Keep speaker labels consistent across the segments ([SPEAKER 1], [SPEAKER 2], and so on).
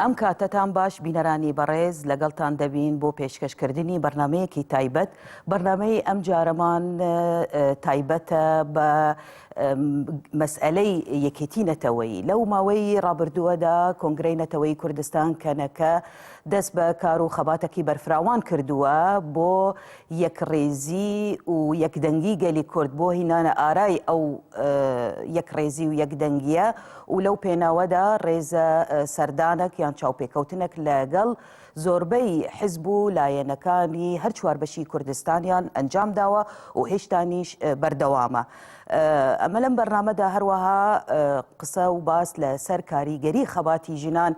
[SPEAKER 1] ئەم کاتەتان باش بینەرانی بەڕێز لەگەڵتان دەبین بۆ پێشکەشکردنی بەرنمەیەکی تایبەت بەرنمەی ئەم جارەمان تایبەتە بە مەسئلەی یەکێتی نەتەوەی لەو ماوەی ڕابردووەدا کۆنگرەی نەتەوەی کوردستان کەنەکە دەست بە کار و خەباتەکی بەرفراوان کردووە بۆ یەکڕیزی و یەکدەنگی گەلی کورد بۆ هینانە ئارای ئەو یەکڕێزی و یەکدەنگیە و لەو پێناوەدا ڕێزە سەردانەک یان چاوپێکەوتنەک لەگەڵ زۆربەی حزب و لایەنەکانی هەر چوار بەشی کوردستانیان ئەنجام داوە و هێشتانیش بەردەوامە. ئەمە لەم بەرنامەدا هەروەها قسە و باس لەسەر کاریگەری خەباتی ژنان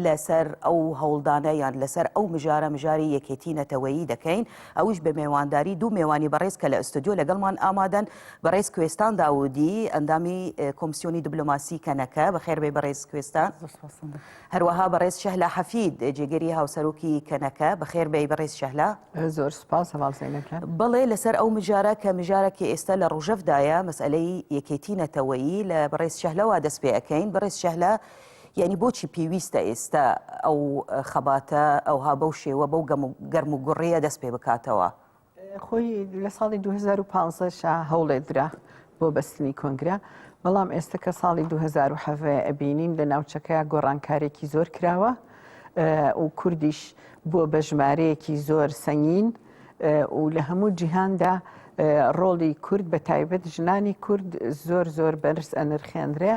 [SPEAKER 1] لەسەر ئەو هەوڵدانە یان لەسەر ئەو مژارە مژاری یەکێتی نەتەوەیی دەکەین ئەوش بە مێوانداری دوو مێوانی بەڕێز کە لە ئستۆدیۆ لەگەڵمان ئامادەن بەڕێز کوێستان داودی ئەندامی کۆمسیۆنی دبلۆماسی کەنەکە بەخێربێ بەڕێز کوێستان هەروەها بەڕێز شەهلا حەفید جێگەری هاوسەرۆکی کەنەکە بەخێربێ بەڕێز شەهلا زۆر سپاس
[SPEAKER 2] بەڵێ لەسەر ئەو
[SPEAKER 1] مژارە کە مژارەکی ئێستا لە ڕژەفدایە مەسئلەی یەکێتی نەتەوەیی لە بەڕێز شەهلەوە دەست پێەکەین بەڕێز شەهلا یانی بۆچی پێویستە ئێستا ئەو خەباتە ئەوها بەو شێوە بەو گەرم و گوڕەیە دەست پێ بکاتەوە؟ خۆی
[SPEAKER 2] لە ساڵی 2015 شا هەوڵێ درا بۆ بەستنی کۆنگرە بەڵام ئێستا کە ساڵی 2010 ئەبینین لە ناوچەکە گۆڕانکارێکی زۆر کراوە و کوردیش بووە بە ژمارەیەکی زۆر سەنگین و لە هەموو جیهاندا ڕۆڵی کورد بە تایبەت ژنانی کورد زۆر زۆر بەرز ئەنرخێنرێ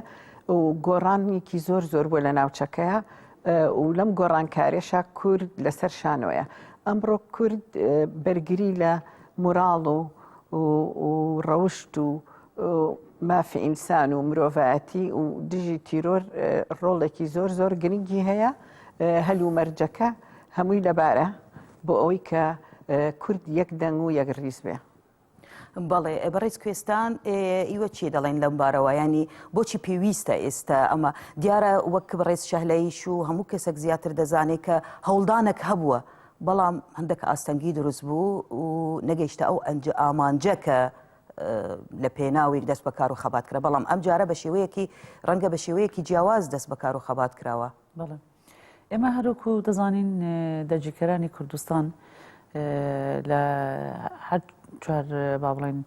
[SPEAKER 2] و گۆڕانێکی زۆر زۆر بۆ لە ناوچەکەیە و لەم گۆڕانکارێشا کورد لەسەر شانۆیە ئەمڕۆ کورد بەرگری لە موراڵ و ڕەوشت و مافی ئینسان و مرۆڤایەتی و دژی تیرۆر ڕۆڵێکی زۆر زۆر گرنگی هەیە هەلومەرجەکە هەمووی لەبارە بۆ ئەوەی کە کورد یەک دەنگ و یەک ڕیز بێ. بەڵێ
[SPEAKER 1] بەڕێز کوێستان ئیوە چی دەڵێن لەم بارەوە ینی بۆچی پێویستە ئێستا ئەمە دیارە وەک بەڕێز شەهلەیش و هەموو کەسێک زیاتر دەزانێت کە هەوڵدانێک هەبووە بەڵام هەندێک ئاستەنگی دروست بوو و نەگەیشتە ئەو ئەنج ئامانجە کە لە پێناوێک دەست بەکار و خەبات کرا بەڵام ئەم جارە بە شێوەیەکی ڕەنگە بە شێوەیەکی جیاواز دەست بەکار و خەبات کراوە بەڵێ
[SPEAKER 3] ئێمە هەروەکو دەزانین دەرگیرکەرانی کوردستان لە هەر چوار با بڵێن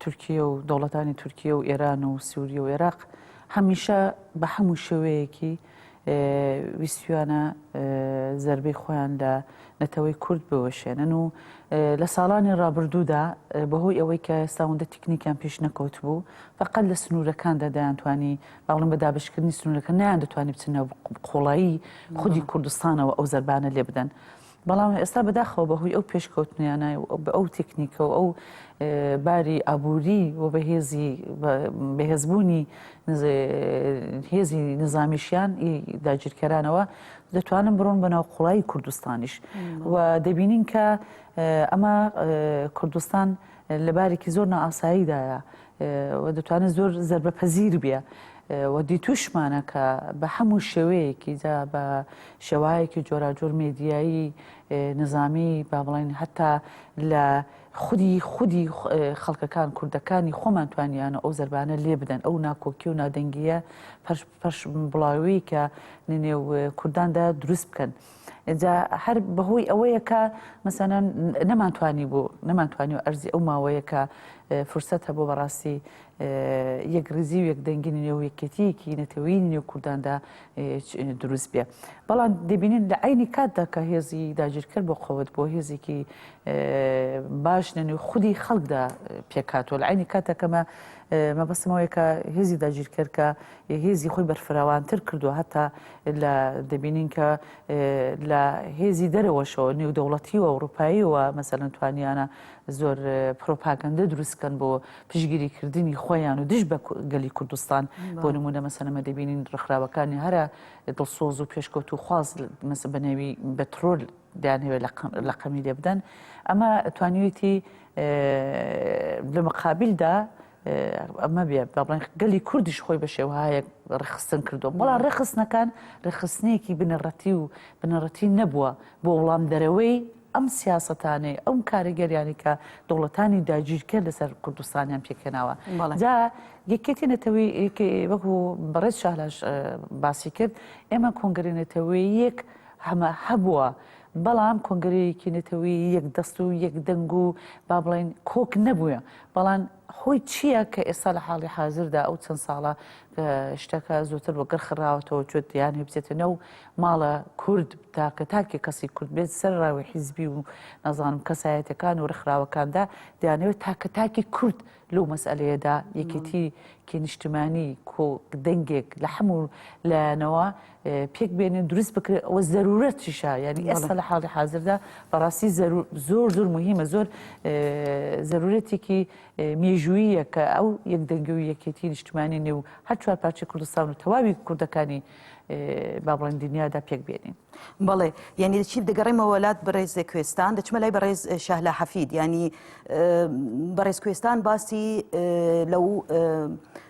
[SPEAKER 3] تورکیە و دەوڵەتانی تورکیە و ئێران و سووریە و عێراق هەمیشە بە هەموو شێوەیەکی ویسویانە زربەی خۆیان لە نەتەوەی کورد بوەشێنن و لە ساڵانی ڕابردوودا بەهۆی ئەوەی کە ساوندە تکنیکیان پێش نەکەوت بوو فقل لە سنوورەکاندا دەیانتوانی بەاڵم بە دابەشکردنی سنوورەکە نەیان دەتوانی بچن ناو قوڵایی خودی کوردستانەوە ئەو زەربانە لێ بدەن. بەڵام ئێستا بەداخەوە بەهۆی ئەو پێشکەوتنیانە بە ئەو تەکنیکە و ئەو باری ئابووری و بەهێزی بەهێزبوونی هێزی نظامیشیان داگیرکەرانەوە دەتوانن بڕۆن بە ناو قوڵایی کوردستانیش و دەبینین کە ئەمە کوردستان لە بارێکی زۆر نائاساییدایە و دەتوانێت زۆر زەربە پەزیر بێ و دیتوشمانە کە بە هەموو شێوەیەکی جا بە شێوایەکی جۆراجۆر مێدیایی نظامی با بڵین هەتا لە خودی خودی خەڵکەکان کوردەکانی خۆمان توانیانە ئەو زربانە لێ بدەن ئەو ناکۆکی و نادەنگیە پەش بڵاوی کە نێو کورداندا دروست بکەن جا هەر بەهۆی ئەوەیە کە مەسەەن نەمانتوانی بوو نەمانتوانی و ئەرزی ئەو ماوەیە کە فرسەت هەبوو بەڕاستی یەک ریزی و یەکدەنگینی نێو یەکێتیەکی نەتەوەی نێو کورداندا دروست بێ بەڵام دەبینین لە عینی کاتدا کە هێزی داگیرکرد بۆ قوت بۆ هێزێکی باش نەنوی خودی خەڵکدا پێکاتوە لە عینی کاتەکەمە مەبەستمەوەی کە هێزی داگیرکرد کە هێزی خۆی بەرفراوانتر کردووە هەتا لە دەبینین کە لە هێزی دەرەوەشەوە نێودەوڵەتی و ئەوروپاییەوە مەسەن توانیانە زۆر پرۆپاگەندە دروستکەن بۆ پشگیری کردنی خۆیان و دژ بە گەلی کوردستان بۆ نمونە مەسەنەمە دەبینین ڕخراوەکانی هەرە دڵسۆز و پێشکەوت و خواز مەسە بەنێوی بە ترۆل دەیانهوێت لە قەمی لێ بدەن ئەمە توانیویەتی لە مقابلدا مەبێ با بڵێن گەلی کوردیش خۆی بە شێوهایەک ڕێخستن کردو بەڵام ڕێخستنەکان ڕێخستنێکی بنەڕەتی و بنەڕەتی نەبووە بۆ وڵام دەرەوەی ئەم سیاستانەی ئەم کاریگەریانی کە دەوڵەتانی داگیرکە لەسەر کوردستانیان پێکێناوە جا یەکێتی نەتەوەی وەکو بەڕێز شالاش باسی کرد ئێمە کۆنگری نەتەوەی یەک هەمە هەبووە. بەڵام کۆنگرەیەکی نەتەوەی یەک دەست و یەک دەنگ و با بڵین کۆک نەبووە بەڵام هۆی چییە کە ئێستا لە حاڵی حازردا ئەو چەند ساڵە شتەکە زۆتر بۆ گڕخراوەتەوە چۆت یان هێبزێتە نەو ماڵە کورد تاکە تاکێک کەسی کورد بێت سەر ڕاوی حیزبی و نازانم کەسایەتەکان و ڕخراوەکاندا دەیانەوێت تاکە تاکی کورد لەو مەسئلەیەدا یەکێتی کێ نیشتمانی کۆ دەنگێک لە حەموو لایەنەوە پێک بێنێ دروست بکرێت ئەوە زەرورەتیشە یعنی ئێستا لە حاڵی حاضردا بەڕاستی زۆر زۆر مهمە زۆر زەرورەتێکی مێژوویە کە ئەو یەک دەنگی و یەکێتی نیشتمانی نێو هەر چوار پارچی کوردستان و تەواوی کوردەکانی با بڵێن دنیادا پێک بێنین بەڵێ
[SPEAKER 1] یعنی چی دەگەڕێمەوە وەلات بەڕێز کوێستان دەچمە لای بەڕێز شەهلا حەفید ینی بەڕێز کوێستان باسی لەو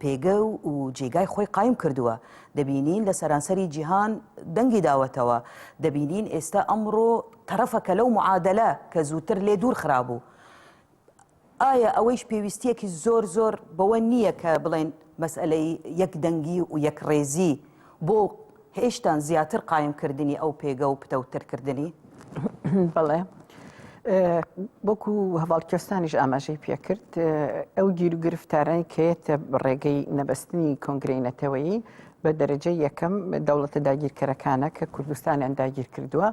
[SPEAKER 1] پێگە و جێگای خۆی قایم کردووە، دەبینین لە سەرانسەری جیهان دەنگی داوەتەوە، دەبینین ئێستا ئەمڕۆ تەرەفەکە لەو معادەلە کە زووتر لێ دوور خرابوو. ئایا ئەوەیش پێویستییەکی زۆر زۆر بەوە نییە کە بڵێن مەسئەلەی یەک دەنگی و یەک ڕێزی بۆ هێشتان زیاتر قایم کردنی ئەو پێگە و پتەوتر کردنی؟
[SPEAKER 2] بەڵێ. بۆکو هەواڵکێستانیش ئاماژەی پێکرد ئەو گیر و گرفتارانی کەێتە ڕێگەی نەبەستنی کۆنگرەی نەتەوەیی بە دەرەجە یەکەم دەوڵەتە داگیرکەرەکانە کە کوردستانیان داگیر کردووە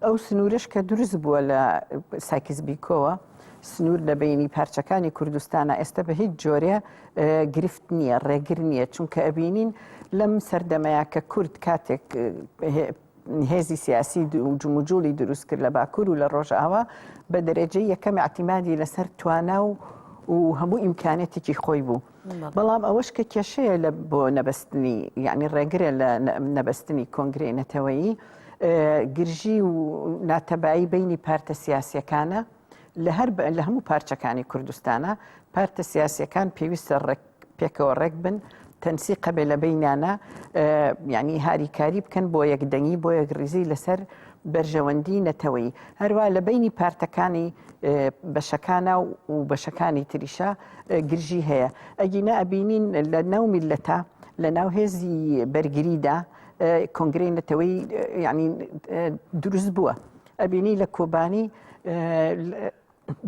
[SPEAKER 2] ئەو سنوورش کە دروست بووە لە ساکیز بیکۆوە سنوور لە بەینی پارچەکانی کوردستانە ئێستا بە هیچ جۆرێ گرفت نییە ڕێگر نییە چونکە ئەبینین لەم سەردەمەیە کە کورد کاتێک هێزی سیاسی و جموجوڵی دروست کرد لە باکوور و لە ڕۆژاوا بە دەرەجەی یەکەم ئەتیمادی لەسەر توانا و و هەموو ئیمکانێتێکی خۆی بوو بەڵام ئەوەش کە کێشەیە لە بۆ نەبەستنی یعنی ڕێگرە لە نەبەستنی کۆنگرەی نەتەوەیی گرژی و ناتەبایی بینی پارتە سیاسەکانە لە هەر لە هەموو پارچەکانی کوردستانە پارتە سیاسەکان پێویستە ڕێک پێکەوە ڕێک بن تەنسی قەبێ لە بینانە ینی هاریکاری بکەن بۆ یەکدەنگی بۆ یەک ریزی لەسەر بەرژەوەندی نەتەوەیی هەروا لە بەینی پارتەکانی بەشەکانە و بەشەکانی تریشە گرژی هەیە ئەگینا ئەبینین لە ناو میلەتە لە ناو هێزی بەرگریدا کۆنگری نەتەوەی ینی دروست بووە ئەبینی لە کۆبانی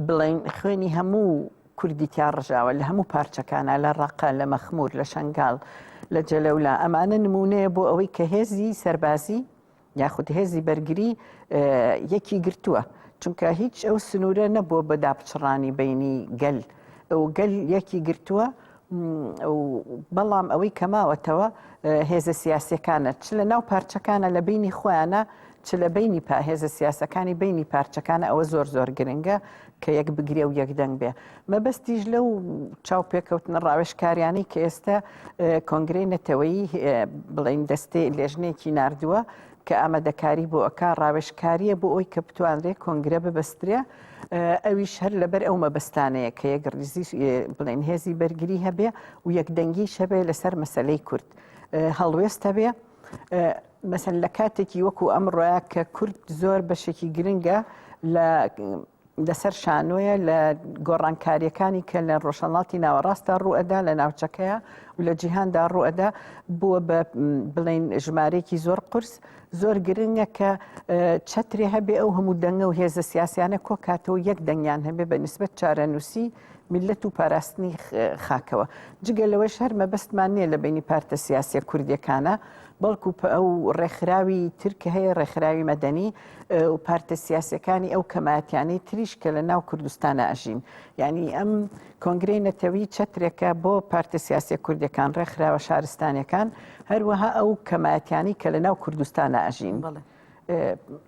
[SPEAKER 2] بڵین خوێنی هەموو کوردی تیا ڕژاوە لە هەموو پارچەکانە لە ڕقە لە مەخمور لە شنگال لە جەلەولا ئەمانە نمونەیە بۆ ئەوەی کە هێزی سەربازی یاخود هێزی بەرگری یەکی گرتووە چونکە هیچ ئەو سنوورە نەبووە بە داپچڕانی بینی گەل ئەو گەل یەکی گرتووە بەڵام ئەوەی کەماوەتەوە هێزە سیاسەکانە چ لە ناو پارچەکانە لە بینی خۆیانە چ لە بینی پاهێزە سیاسەکانی بینی پارچەکانە ئەوە زۆر زۆر گرنگە کە یەک بگرێ و یەک دەنگ بێ. مەبەستیش لەو چاوپێکەوتنە ڕاوێژکاریانەی کە ئێستا کۆنگرەی نەتەوەیی بڵین دەستێ لێژنێکی نردووە کە ئامادەکاری بۆ ئەک ڕاوێژکاریە بۆ ئەوی کە بتوانرێ کۆنگرە ببەسترێ ئەویش هەر لەبەر ئەو مەبەستانەیە کە یەک ڕیزی بڵێن هێزی بەرگری هەبێ و یەکدەنگی شەبێ لەسەر مەسلەی کورد هەڵوێستە بێ مەسەن لە کاتێکی وەکو ئەمڕۆە کە کورد زۆر بەشێکی گرنگە لە لەسەر شانۆیە لە گۆڕانکاریەکانی کە لە ڕۆژهڵاتی ناوەڕاستدا ڕوئەدا لە ناوچەکەیە و لە جیهاندا ڕوئەدا بووە بە بڵین ژمارەیەکی زۆر قرس زۆر گرنگە کە چترێ هەبێ ئەو هەموو دەنگە و هێزە سیاسیانە کۆکاتەوە یەک دەنگیان هەبێ بە نسبت چارەنووسی میللەت و پاراستنی خاکەوە جگە لەوەش هەر مەبەستمان نییە لە بینی پارتە سیاسە کوردیەکانە بەڵکو ئەو ڕێکخراوی ترکە هەیە ڕێکخراوی مەدەنی و پارتە سیاسەکانی ئەو کەماتیانەی تریش کە لە ناو کوردستانە ئەژین یعنی ئەم کۆنگری نەتەوی چەترێکە بۆ پارتە سیاسە کوردەکان ڕێکخراوە شارستانەکان هەروەها ئەو کەماتیانی کە لە ناو کوردستانە ئەژین بڵێ.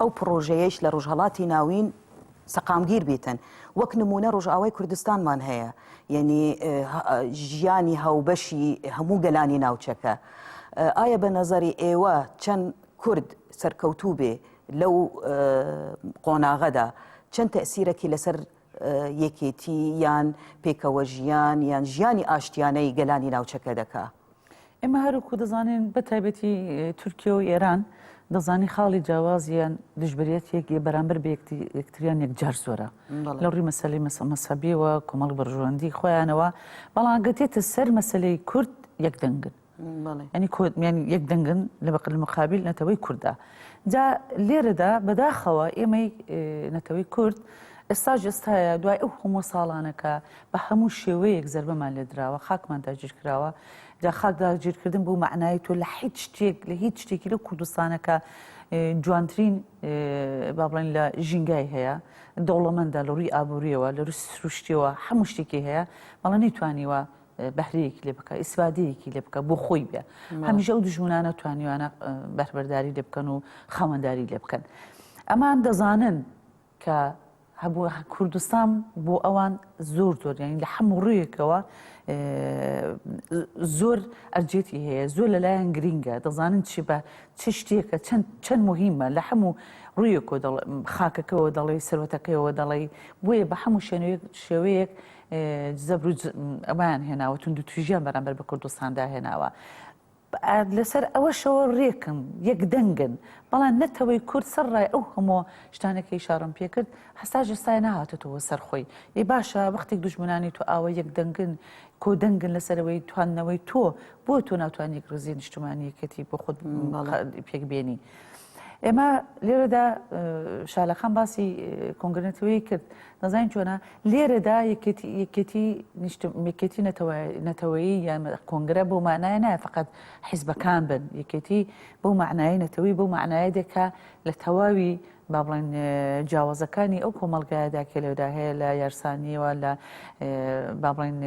[SPEAKER 1] ئەو پڕۆژەیەیش لە ڕوژهەڵاتی ناوین سەقامگیر بیتن وەک نمونە ڕۆژئاوای کوردستانمان هەیە یەنی ژیانی هاوبەشی هەموو گەلانی ناوچەکە ئایا بە نەزەری ئێوە چەند کورد سەرکەوتوو بێ لەو قۆناغەدا چەند تەسیرەکی لەسەر یەکێتی یان پێکەوە ژیان یان ژیانی ئاشتیانەی گەلانی ناوچەکە دەکا ئێمە هەروکو
[SPEAKER 3] دەزانین بە تایبەتی تورکیا و ئێران دەزانی خاڵی جیاوازیان دژبریت یەک بەرامبەر بە یەکتریان یەکجار زۆرە لە ڕووی مەسلی مەسەبیەوە کۆمەڵ بەرژوەندی خۆیانەوە بەڵام گەتێتە سەر مەسلەی کورد یەک دەنگن ینی کۆمیان یەک دەنگن لە بەقل مقابل نەتەوەی کووردا جا لێرەدا بەداخەوە ئێمەی نەتەوەی کورد ئێستا جستایە دوای ئەو هەموو ساڵانەکە بە هەموو شێوەیەک زەربەمان لێ دراوە، خاکمان داگیر کراوە، جا خاک داگیرکردن بەو مەعنایەی تۆ لە هیچ شتێک، لە هیچ شتێکی لەو کوردستانە کە جوانترین با بڵێن لە ژینگای هەیە، دەوڵەمەندە لە ڕووی ئابوورییەوە، لە ڕووی سروشتیەوە، هەموو شتێکی هەیە، بەڵام نەیتوانیوە بەهرەیەکی لێ بکا، ئیسفادەیەکی لێ بکا، بۆ خۆی بێ. هەمیشە ئەو دوژمنانە توانیوانە بەهرەبەرداری لێ بکەن و خاوەنداری لێ بکەن. ئەمان دەزانن کە هەبووە کوردستان بۆ ئەوان زۆر زۆر یانی لە هەموو ڕوویەکەوە زۆر ئەرجێتی هەیە زۆر لەلایەن گرینگە دەزانن چی بە چ شتێکە چەند چەند مهمە لە هەموو ڕوویەکۆ خاکەکەەوە دەڵێ سەرەتەکەیەوە دەڵێ بۆیە بە هەموو شوێنێک شێوەیەک زەبر ئەمان هێناوە تونند و توژیان بەرامبەر بە کوردستاندا هێناوە لەسەر ئەوەشەوە رێکم یەک دەنگن، بەڵام نەتەوەی کورد سەرڕای ئەو هەموو شتانە کەی شەڕم پێ کرد، هەتاش ئێستا نەهاتۆتەوە سەر خۆی. ئێ باشە وەختێک دوژمنانی تۆ ئاوا یەک دەنگن، کۆ دەنگن لەسەر ئەوەی تواندنەوەی تۆ، بۆ تۆ ناتوانی یەک رێزی نیشتمانی یەکێتی بۆ خۆت پێک بێنی؟ ئێمە لێرەدا شالەخان باسی کۆنگرنەتەوەی کرد نەزانین چۆنە لێرەدا یەکێتی نیشتمێکێتی نەتەوەیی یان کۆنگرە بۆ مانایە نایە فقط حیزبەکان بن یەکێتی بۆ معنای نەتەوەی بۆ معنایە دێکە لە تەواوی با بڵێن جیاوازەکانی ئەو کۆمەلگایەدا کێ لەودا هەیە لە یارسانیەوە لە با بڵێن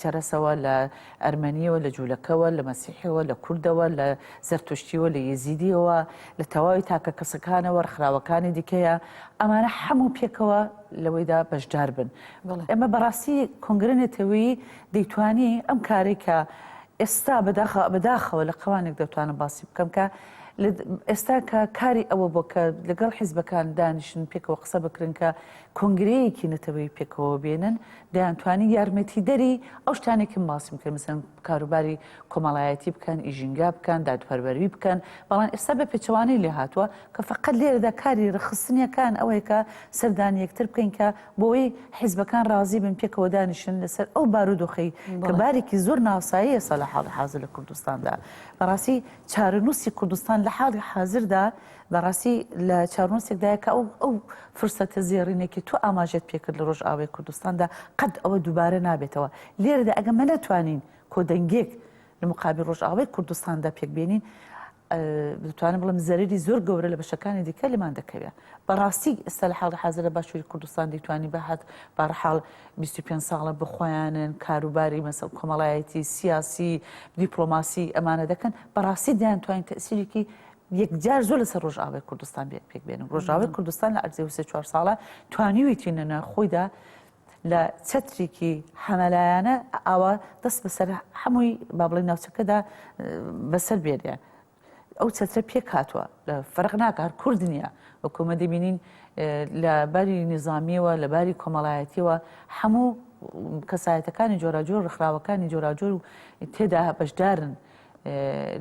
[SPEAKER 3] چەرەسەوە، لە ئەرمەنییەوە، لە جوولەکەوە، لە مەسیحییەوە، لە کوردەوە، لە زەرتوشتییەوە، لە یەزیدییەوە، لە تەواوی تاکە کەسەکانەوە، ڕێکخراوەکانی دیکەیە، ئەمانە حەموو پێکەوە لەوەیدا بەشدار بن. ئێمە بە ڕاستی کۆنگرە نەتەوەیی دەیتوانی ئەم کارەی کە ئێستا بەداخە، بە داخەوە لە قەوانێک دەتوانم باسی بکەم کە لە ئێستا کە کاری ئەوە بووە کە لەگەڵ حیزبەکان دانیشن پێکەوە قسە بکرن کە کۆنگرەیەکی نەتەوەیی پێکەوە بێنن دەیانتوانی یارمەتیدەری ئەو شتانەی کە من باسم بکەن مەسەن کاروباری کۆمەڵایەتی بکەن ئی ژینگا بکەن دادپەروەری بکەن بەڵام ئێستا بە پێچەوانەی لێ هاتووە کە فەقەت لێرەدا کاری ڕێکخستنیەکان ئەوەیە کە سەردانی یەکتر بکەین کە بۆی حیزبەکان ڕازی بن پێکەوە دانیشن لەسەر ئەو بارودۆخەی کە بارێکی زۆر ناساییە سە لە حاڵی حازر لە کوردستاندا بەڕاستی چارەنووسی کوردستان لە حاڵی حازردا بە ڕاستی لە چارنوسێکدایە کە ئەو ئەو فرسەتە زێڕینێ کە تۆ ئاماژەت پێکرد لە ڕۆژئاوای کوردستاندا قەت ئەوە دووبارە نابێتەوە لێرەدا ئەگە مە نەتوانین کۆدەنگێک لە مقابل ڕۆژئاوای کوردستاندا پێک بێنین دەتوانم بڵم زەرری زۆر گەورە لە بەشەکانی دیکە لەمان دەکەوێت بەڕاستی ئێستا لە حاڵی حاضر لە باشووری کوردستان دەیتوانی بەهات بارحاڵ 25 ساڵە بخۆیانن کاروباری مەسەڵ کۆمەڵایەتی سیاسی دیپلۆماسی ئەمانە دەکەن بەڕاستی دەیان توانین تەسیرێکی یەکجار زۆر لەسەر ڕۆژئاوای کوردستان بێت پێک بێنم ڕۆژاوای کوردستان لە ئەرزێ وسێ چوار ساڵە توانیویتی نەنا خۆیدا لە چەترێکی حەمەلایەنە ئاوا دەست بەسەر هەمووی با بڵێ ناوچەکەدا بەسەر بێنێ ئەو چەترە پێک هاتووە لە فەرق ناکار کورد نییە وەکومە دەبینین لە باری نظامیەوە لە باری کۆمەڵایەتیەوە هەموو کەسایەتەکانی جۆراجۆر ڕخراوەکانی جۆراجۆر و تێدا بەشدارن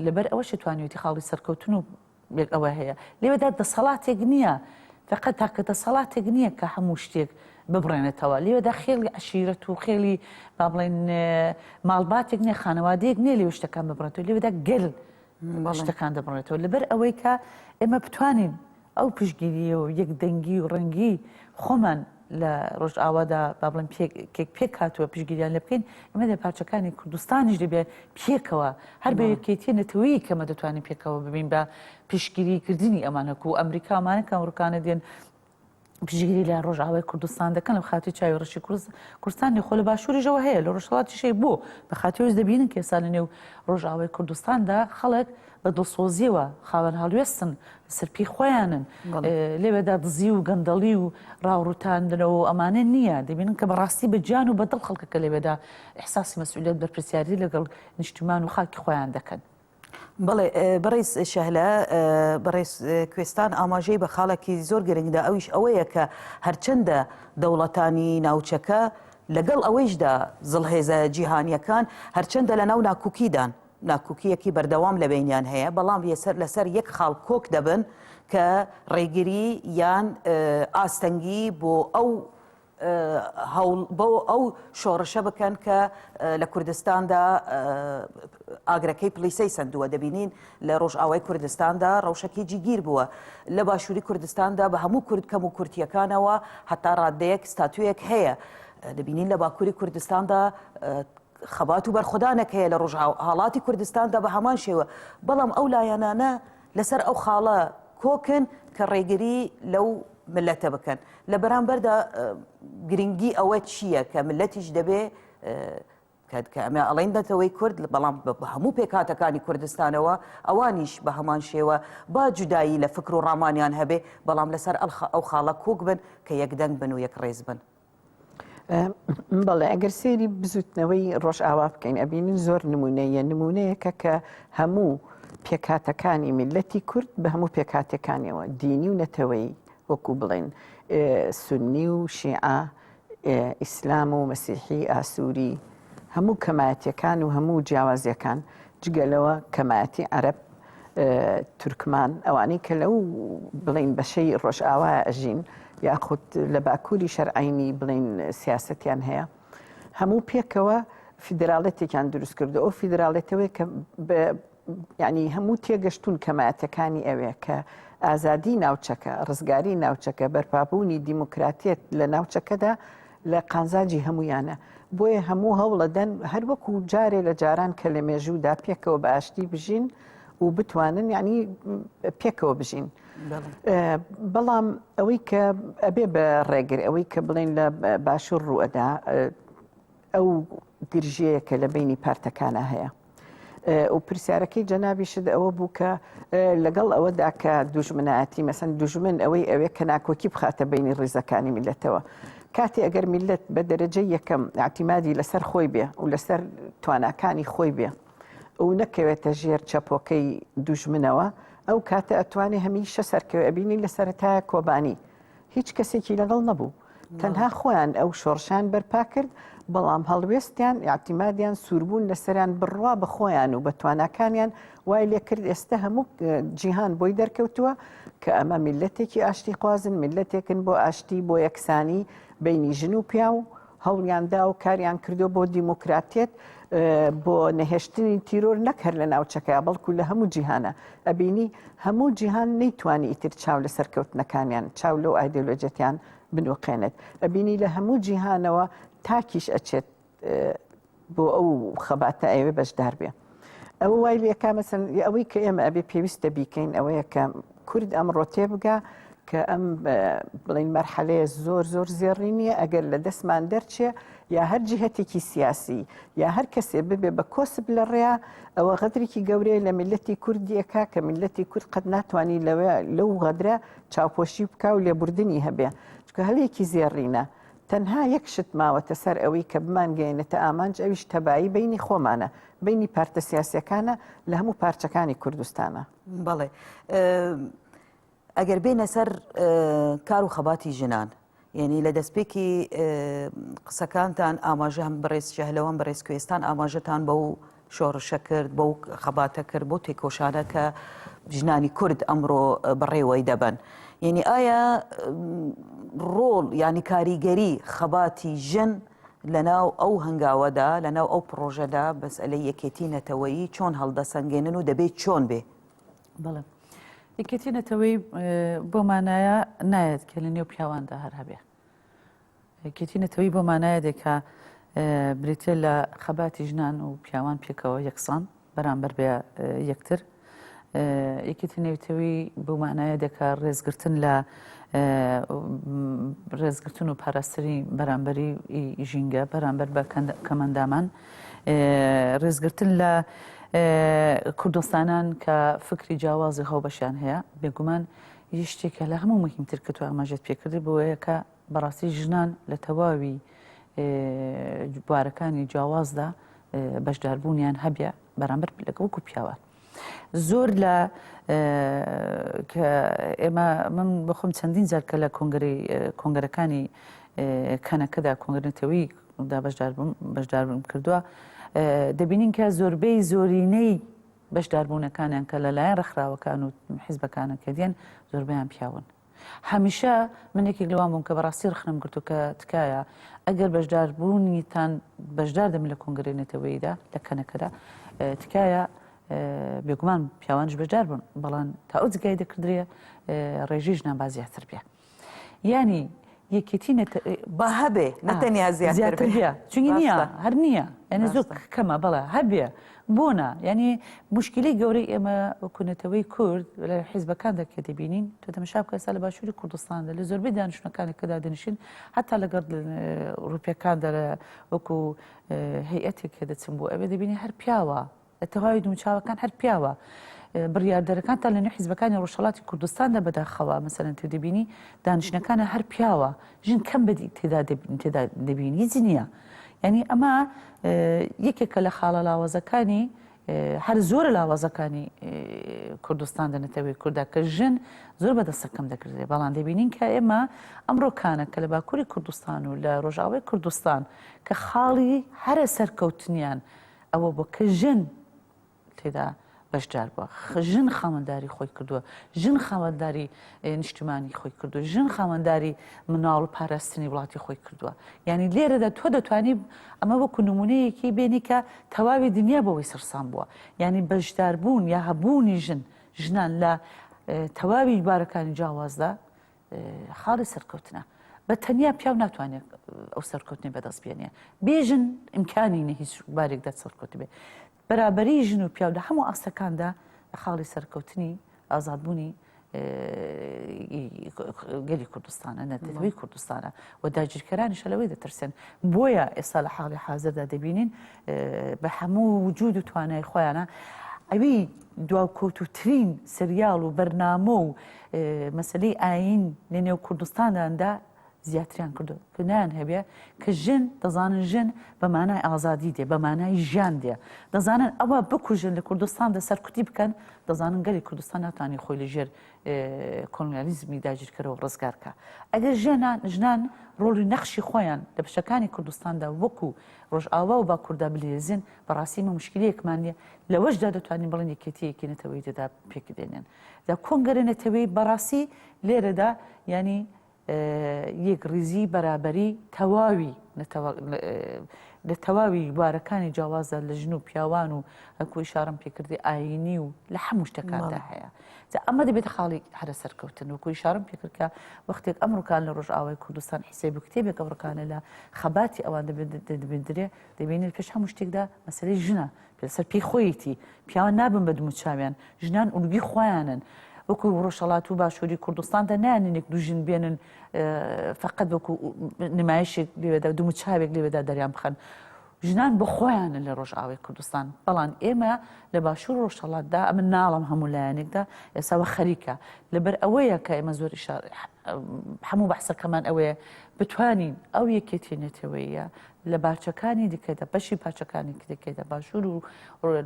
[SPEAKER 3] لەبەر ئەوەشە توانیویەتی خاڵی سەرکەوتن و لێک ئەوە هەیە لێوەدا دەسەڵاتێک نییە فقەت تاکە دەسەڵاتێک نییە کە هەموو شتێک ببڕێنێتەوە لێوەدا خێڵی عشیرەت و خێڵی با بڵێن ماڵباتێک نیە خانەوادەیەک نیە لێ شتەکان ببڕێتەوە لێوەدا گەل شتەکان دەبڕێتەوە لەبەر ئەوەی کە ئێمە بتوانین ئەو پشتگیریی و یەک دەنگی و ڕەنگی خۆمان لە ڕۆژئاوادا با بڵێن پێکێک پێک هاتووە پشتگیریان لێ بکەین، ئێمە لە پارچەکانی کوردستانیش دەبێ پێکەوە هەر بە یەکێتییە نەتەوەیەک کە ئێمە دەتوانین پێکەوە ببین بە پشتگیریی کردنی ئەمان هەکوو ئەمریکا ئەمانە کە ئەمڕوکانە دێن پشتگیری لە ڕۆژئاوای کوردستان دەکەن لە خاتی چاوی ڕەشی کورس کوردستانی خۆ لە باشووریشەوە هەیە لە ڕۆژهەڵاتیشەی بۆ بە خاتیۆش دەبینن کە ئێستا لە نێو ڕۆژئاوای کوردستاندا خەڵک بە دڵسۆزیەوە خاوەن هەڵوێستن لەسەر پێی خۆیانن لەوێدا دزی و گەندەڵی و ڕاوڕوتاندنەوە و ئەمانە نییە دەبینن کە بەڕاستی بە گیان و بەدڵ خەڵکەکە لەوێدا احساسی مەسئولیت بەرپرسیاری لەگەڵ نیشتیمان و خاکی خۆیان دەکەن. بەڵێ
[SPEAKER 1] بەڕێز شەهلا بەڕێز کوێستان ئاماژەی بە خاڵێکی زۆر گرنگدا ئەویش ئەوەیە کە هەرچەندە دەوڵەتانی ناوچەکە لەگەڵ ئەوەیشدا زڵهێزە جیهانیەکان هەرچەندە لەناو ناکوکیدان ناکۆکییەکی بەردەوام لە بەینیان هەیە، بەڵام لەسەر یەک خاڵ کۆک دەبن کە ڕێگری یان ئاستەنگی بۆ ئەو بۆ ئەو شۆڕشە بکەن کە لە کوردستاندا ئاگرەکەی پلیسەی سندووە دەبینین لە ڕۆژئاوای کوردستاندا ڕەوشەکی جیگیر بووە لە باشووری کوردستاندا بە هەموو کورد کەم و کورتیەکانەوە حتا ڕادەیەک ستاتویەک هەیە دەبینین لە باکووری کوردستاندا خەبات و بەرخودانێک هەیە لە ڕۆژهاڵاتی کوردستاندا بە هەمان شێوە، بەڵام ئەو لایەنانە لەسەر ئەو خاڵە کۆکن کە ڕێگری لەو میللەتە بکەن، لە بەرامبەردا گرنگی ئەوە چییە کە میللەتیش دەبێ کە ئەمە ئەڵین نەتەوەی کورد بەڵام بە هەموو پێکاتەکانی کوردستانەوە ئەوانیش بە هەمان شێوە با جودایی لە فکر و ڕامانیان هەبێ بەڵام لەسەر ئەو خاڵە کۆک بن کە یەکدەنگ بن و یەک ڕێز بن.
[SPEAKER 2] بەڵێ ئەگەر سێری بزوتنەوەی ڕۆژئاوا بکەین ئەبینین زۆر نمونەیە نمونەیەکە کە هەموو پێکاتەکانی میلەتی کورد بە هەموو پێکاتەکانیەوە دینی و نەتەوەی وەکو بڵێن سنی و شیعە ئیسلام و مەسیحی ئاسووری هەموو کەمایەتەکان و هەموو جیاوازیەکان جگەلەوە کەمایەتی عەرب تورکمان ئەوانەی کە لەو بڵین بەشەی ڕۆژئاوا ئەژین یاخود لە باکووری شەرعینی بڵین سیاستیان هەیە هەموو پێکەوە فیدراڵێتێکیان دروست کردو ئەو فیدراڵێتەوەی کە ینی هەموو تێگەشتون کەمایەتەکانی ئەوێ کە ئازادی ناوچەکە ڕزگاری ناوچەکە بەرپابوونی دیموکراتێت لە ناوچەکەدا لە قازانجی هەموویانە، بۆیە هەموو هەوڵەدەن هەر وەکو جارێ لە جاران کە لە مێژوودا پێکەوە بە ئاشتی بژین و بتوانن یعنی پێکەوە بژین بەڵام ئەوەی کە ئەبێ بە ڕێگر ئەوەی کە بڵێن لە باشوور ڕووەدا ئەو گرژەیە کە لە بینی پارتەکانە هەیە. و پرسیارەکەی جەنابیشت ئەوە بوو کە لەگەڵ ئەوەدا کە دوژمنایەتی مەسەن دوژمن ئەوەی ئەوێ کە ناکۆکی بخاتە بینی ڕیزەکانی میلەتەوە کاتی ئەگەر میلەت بە دەرەجە یەکەم ئاعتیمادی لەسەر خۆی بێ و لەسەر تواناکانی خۆی بێ و نەکەوێتە ژێر چەپۆکەی دوژمنەوە ئەو کاتە ئەتوانێ هەمیشە سەرکەوێ ئەبینی لە سەرەتایە کۆبانی هیچ کەسێکی لەگەڵ نەبوو تەنها خۆیان ئەو شۆڕشان بەرپا کرد بەڵام هەڵوێستیان یاعتیمادیان سووربوون لەسەریان بڕوا بە خۆیان و بە تواناکانیان وای لێ کرد ئێستا هەموو جیهان بۆی دەرکەوتووە کە ئەمە میلەتێکی ئاشتی خوازن میلەتێکن بۆ ئاشتی بۆ یەکسانی بینی ژن و پیاو هەوڵیان دا و کاریان کردووە بۆ دیموکراتیەت بۆ نەهێشتنی تیرۆر نەک هەر لە ناوچەکە بەڵکو لە هەموو جیهانە ئەبینی هەموو جیهان نەیتوانی ئیتر چاو لە سەرکەوتنەکانیان چاو لەو ئایدۆلۆجەتیان بنوقێنێت ئەبینی لە هەموو جیهانەوە تاکیش ئەچێت بۆ ئەو خەباتە ئەیەوێ بەشدار بێ ئەوە وای لەکە مەسن ئەوەی کە ئێمە ئەبێ پێویستە بیکەین ئەوەیە کە کورد ئەمڕۆ تێبگا کە ئەم بڵین مەرحەلەیە زۆر زۆر زێڕی نییە ئەگەر لە دەستمان دەرچێ یا هەر جهتێکی سیاسی یا هەر کەسێ ببێ بە کۆسب لە ڕێیا ئەوە غەدرێکی گەورەیە لە میلەتی کوردیەکە کە میلەتی کورد قەت ناتوانانی لەوێ لەو غەدرە چاوپۆشی بکە و لێبوردنی هەبێ چکە هەلێکی زێڕینە تەنها یەک شت ماوەتە سەر ئەوی کە بمانگەیەنێتە ئامانج ئەویش تەبایی بەینی خۆمانە بەینی پارتە سیاسیەکانە لە هەموو پارچەکانی کوردستانە
[SPEAKER 1] بەڵێ ئەگەر بێنە سەر کار و خەباتی ژنان یعنی لە دەستپێکی قسەکانتان ئاماژە هەم بەڕێز شەهلەوەم بەڕێز کوێستان ئاماژەتان بە و شۆڕشە کرد، بەو خەباتە کرد، بەو تێکۆشانە کە ژنانی کورد ئەمڕۆ بەڕێوەی دەبەن. یعنی ئایا ڕۆڵ یعنی کاریگەری خەباتی ژن لەناو ئەو هەنگاوەدا لەناو ئەو پڕۆژەدا بەس ئەلە یەکێتی نەتەوەیی چۆن هەڵدەسەنگێنن و دەبێت چۆن بێ؟ بەڵێ
[SPEAKER 3] یەکێتی نەتەوەی بۆ مانایە نایەت کە لە نێو پیاواندا هەر هەبێ. یەکێتی نەتەوەیی بۆ مانایە دێکا بریتە لە خەباتی ژنان و پیاوان پێکەوە یەکسان بەرامبەر بە یەکتر یەکێتی نەویتەوی بۆ مانایە دەکە ڕێزگرتن لە ڕێزگرتن و پاراستری بەرامبەری ژینگە بەرامبەر بە کەمەندامان ڕێزگرتن لە کوردستانان کە فکری جیاوازی هەوبەشیان هەیە بێگومان یشتێکە لە هەموو مهمتر کە تو ئاماژەت پێکردی بۆیەکە بەڕاستی ژنان لە تەواوی بوارەکانی جیاوازدا بەشداربوونیان هەبێ بەرامبەر لەگەڵکو پیاوان. زۆر لە کە ئێمە من بخۆم چەندین جارکە لە کۆنگری کۆنگەرەکانی کەنەکەدا کۆنگرنەتەوەی دا بەشداربووم بەشداربووم کردووە دەبینین کە زۆربەی زۆرینەی بەشداربوونەکانیان کە لەلایەن ڕخراوەکان و حیزبەکانە کە دێن زۆربیان پیاون هەمیشە من یەکێک لەوان بووم کە بەڕاستی ڕەخنەم گرت و کە تکایە ئەگەر بەشداربوونیتان بەشدار دەبن لە کۆنگرەی نەتەوەییدا لە کەنەکەدا تکایە بێگومان پیاوانش بەشدار بوون بەڵام تا ئەو جگای دەکردرێ ڕێژی ژنان با زیاتر بێ یانی یەکێتی نە با هەبێ
[SPEAKER 1] نەتەنیا زیاتر بێ چونی نییە هەر
[SPEAKER 3] نییە یعنی زۆر کەمە بەڵێ هەبێ بۆ نا یعنی مشکلی گەورەی ئێمە وکوونەتەوەی کورد لە حیزبەکان دەکرێت دەبینین تۆ دەمەشا بکەسا لە باشووری کوردستان لە زۆربەی دانیشتەکانی کەدا دەنیشین هەتا لەگەڵ ڕوپیەکان دەرە وەکو هەیئەتێک کە دەچم بۆ ئەوێ دەبینی هەر پیاوە لە تەواوی دموچاوەکان هەر پیاوە. بڕیاردەرەکان تا لەنێو حیزبەکانی ڕۆژهەڵاتی کوردستاندا بەداخەوە مەسەلەن تۆ دەبینی دانیشتنەکانە هەر پیاوە ژن کەم بەدی تێدا تێدا دەبینی هیچ نییە یعنی ئەمە یەکێکە لە خاڵە لاوازەکانی هەر زۆر لاوازەکانی کوردستان دەنەتەوەی کووردا کە ژن زۆر بە دەسەکەم دەکردێ بەڵام دەبینین کە ئێمە ئەمڕۆکانە کە لە باکووری کوردستان و لە ڕۆژاوای کوردستان کە خاڵی هەرە سەرکەوتنیان ئەوە بۆ کە ژن تێدا بەشدار بووە ژن خاوەنداری خۆی کردووە ژن خاوەنداری نیشتمانی خۆی کردو ژن خاوەنداری مناڵ و پاراستنی وڵاتی خۆی کردووە یعنی لێرەدا تۆ دەتوانی ئەمە وەکو نمونەیەکی بینی کە تەواوی دنیا بەوەی سەرسان بووە یعنی بەشداربوون یا هەبوونی ژن ژنان لە تەواوی بارەکانی جیاوازدا خاڵی سەرکەوتنە بە تەنیا پیاو ناتوانێت ئەو سەرکەوتنی بەدەست بێنێ بێژن ئیمکانی نە هیچ بارێک دە سەرکەوت بێ بەرابری ژن و پیاو لە هەموو ئاستەکاندا خاڵی سەرکەوتنی ئازادبوونی گەلی کوردستانە نەتەوەی کوردستانە و داگیرکەرانیشە لەوەی دەترسێن بۆیە ئێستا لە حاڵی حازردا دەبینین بە هەموو وجود و توانای خۆیانە ئەوی دواکۆتوترین سریال و بەرنامە و مەسەلەی ئایین لە نێو کوردستانداندا زیاتریان کردو کە نایان هەبێ کە ژن دەزانن ژن بە مانای ئازادی دێ بە مانای ژیان دێ دەزانن ئەوە بکوژن لە کوردستان دە سەرکوتی بکەن دەزانن گەلی کوردستان ناتانی خۆی لە ژێر کۆنگالیزمی داگیرکەرەوە ڕزگارکە ئەگەر ژێنان ژنان ڕۆڵی نەخشی خۆیان لە بشەکانی کوردستاندا وەکو ڕۆژئاوا و باکووردا بلێزین بەڕاستی مە مشکلەیەکمان نیە لەوەشدا دەتوانین بڵێن یەکێتی یەکی نەتەوەی دەدا پێکدێنێن دا کۆنگرە نەتەوەیی بەڕاستی لێرەدا یانی یەکڕیزی بەرابەری تەواوی لە تەواوی بارەکانی جیاوازە لە ژن و پیاوان و هەکوی شارم پێکردی ئاینی و لە هەموو شتەکاندا هەیە جا ئەمە دەبێت خاڵی هەرە سەرکەوتن و کوی شارم پێکردکە وەختێک ئەمڕکان لە ڕژاوای کوردستان حیسێ بکتێبێک ئەوڕکانە لە خەباتی ئەوان دەبێندرێ دەبینێت پێش هەموو شتێکدا مەسلەی ژنە لەسەر پێی خۆیەتی پیاوان نابن بە دموچاویان، ژنان ئولگوی خۆیانن، وەکو ڕۆژهەڵات و باشوری کوردستاندا نایانن یەک دوو ژن بێنن فەقەت وەکو نمایشێک لێوێدا دموچاوێک لێوێدا دەریان بخەن، ژنان بە خۆیانن لە ڕۆژئاوای کوردستان، بەڵام ئێمە لە باشور و ڕۆژهەڵاتدا ئەمن ناڵم هەموو لایەنێکدا ئێستا وە خەریکە، لەبەر ئەوەیە کە ئێمە زۆر ئیشار هەموو بەحسەکەمان ئەوەیە بتوانین ئەو یەکێتیە نەتەوەیە لە باچەکانی دیکەدا بەشی پاچەکانی کرێکەدا باشوور و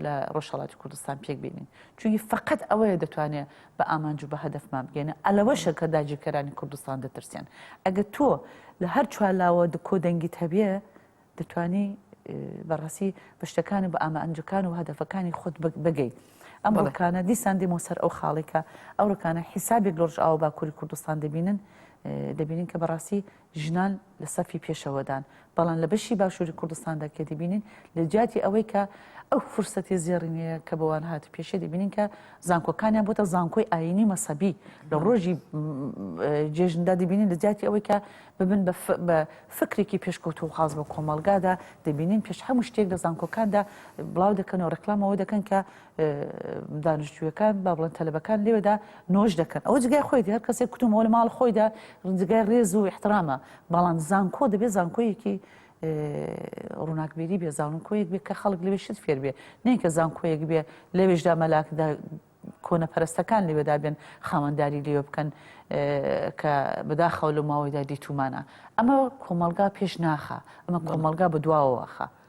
[SPEAKER 3] لە ڕۆژهڵاتی کوردستان پێک بینین چونی فقط ئەوەیە دەتوانێت بە ئامانج و بە هەدفمان بگەێنە ئەلەوەشە کە داگیرکەرانی کوردستان دەترسێن ئەگە تۆ لە هەر چوارلاوە دکۆ دەنگی هەبیە دەتانی بەڕاستی بەشتەکانی بە ئامانجەکان و هەدفەکانی خۆت بگەیت ئەم ڕکانە دیسان دێمە سەر ئەو خاڵێکە ئەو ڕکانە حیسابێک لۆژ ئاو باکووری کوردستان دەبینن دەبینین کە بەڕاستی ژنان لە سەفی پێشەوەدان، بەڵام لە بەشی باشووری کوردستاندا کە دەبینین لە جیاتی ئەوەی کە ئەو فرسەتی زێڕینەیە کە بەوان هاتوپێشە دەبینین کە زانکۆکانیان بۆتە زانکۆی ئاینی و مەسەبی لە ڕۆژی جێژندا دەبینین لە جیاتی ئەوەی کە ببن بە فکرێکی پێشکەوتو و خاز بە کۆمەلگادا دەبینین پێش هەموو شتێک لە زانکۆکاندا بڵاو دەکەنەوە ڕێکلامەوە دەکەن کە دانشجویەکان با بڵێن تەلبەکان لێوێدا نۆش دەکەن ئەو جگای خۆیتی هەر کەسێک کتومەوە لە ماڵ خۆیدا ڕجگای ڕێز و احترامە بەڵام زانکۆ دەبێت زانکۆیەکی ڕووناکبیری بێ زانکۆیەک بێ کە خەڵک لەوێ شت فێر بێ نینکە زانکۆیەک بێ لەوێشدا مەلاکدا کۆنە پەرستەکان لەوێدا بێن خاوەنداری لێوە بکەن کە بەداخەوە لە ماوەیدا دیتومانە ئەمە کۆمەلگا پێش ناخە ئەمە کۆمەلگا بە دواوەخە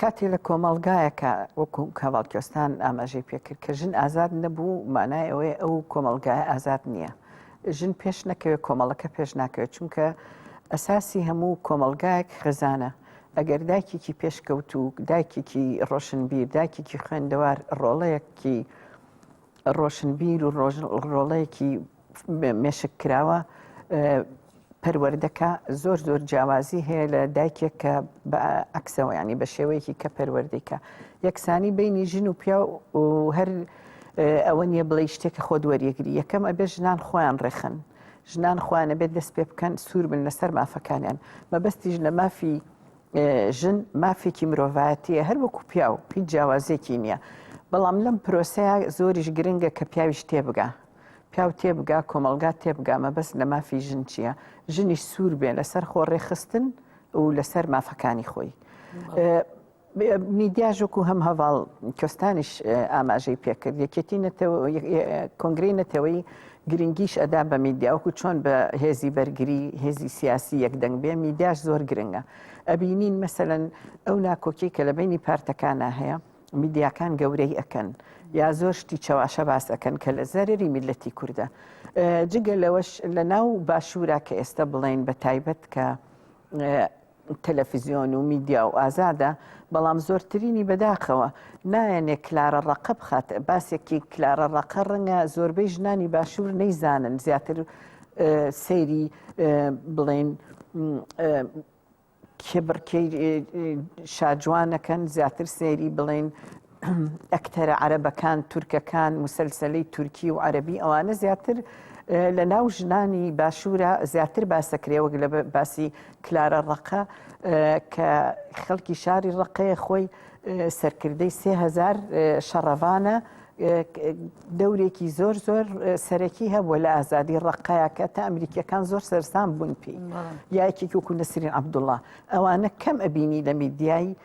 [SPEAKER 2] کاتێ لە کۆمەڵگایەکە وەکو کاواڵ کوێستان ئاماژەی پێکرد کە ژن ئازاد نەبوو مانای ئەوەیە ئەو کۆمەلگای ئازاد نییە ژن پێش نەکەوێت کۆمەڵەکە پێش ناکەوێت چونکە ئەساسی هەموو کۆمەلگایەک خزانە ئەگەر دایکێکی پێشکەوت و دایکێکی ڕۆشنبیر دایکێکی خوێندەوار ڕۆڵەیەکی ڕۆشنبیر و ڕۆژ ڕۆڵەیەکی مێشک کراوە پەروەردەکە زۆر زۆر جیاوازی هەیە لە دایکێک کە بە ئەکسەوە ینی بە شێوەیەکی کە پەروەردەیکە یەکسانی بینی ژن و پیا و هەر ئەوە نیە بڵێ شتێکە خۆ دووەریەگری یەکەم ئەبێ ژنان خۆیان ڕێخن ژنان خۆیانە بێت دەست پێ بکەن سوور بن لەسەر مافەکانیان مەبەستیش لە مافی ژن مافێکی مرۆڤایەتیە هەر وەکو پیا و هیچ جیاوازێکی نییە بەڵام لەم پرۆسەیە زۆریش گرنگە کە پیاویش تێبگا پیاو تێبگا کۆمەڵگا تێبگا مەبەست لە مافی ژن چییە ژنیش سوور بێ لەسەر خۆ ڕێخستن و لەسەر مافەکانی خۆی. میدیاژۆک و هەم هەواڵ کۆستانیش ئاماژەی پێکرد یەکێتی کۆنگری نەتەوەی گرنگیش ئەدا بە میدیاوەکو چۆن بە هێزی بەرگری هێزی سیاسی یەکدەنگ بێ میدیاش زۆر گرنگە ئەبینین مەسەن ئەو ناکۆکی کە لە بینی پارتەکانە هەیە میدیاکان گەورەی ئەکەن یا زۆر شتی چەواشە باس ئەەکەن کە لە زەرری میلەتی کووردە جگە لەوەش لە ناو باشوورە کە ئێستا بڵین بە تایبەت کە تەلەفیزیۆن و میدیا و ئازادە بەڵام زۆرترینی بەداخەوە نایەنێ کلارە ڕقە بخات باسێکی کلارە ڕقە ڕەنگە زۆربەی ژنانی باشوور نەیزانن زیاتر سەیری بڵێن کێبڕکێی شاجوانەکەن زیاتر سەیری بڵێن ئەکتەرە عەرەبەکان تورکەکان مسلسلی تورکی و عەربی ئەوانە زیاتر لە ناو ژنانی باشوورە زیاتر باسەکرێوەک لە باسی کلارە ڕقە کە خەڵکی شاری ڕقەیە خۆی سەرکردەی سێهزار شەڕەوانە دەورێکی زۆر زۆر سەرەکی هەبووە لە ئازادی ڕقایەکە تا ئەمریکیەکان زۆر سەرسان بوون پێی یاکی وکو نەسرین عبدوڵە ئەوانە کەم ئەبینی لە میدیایی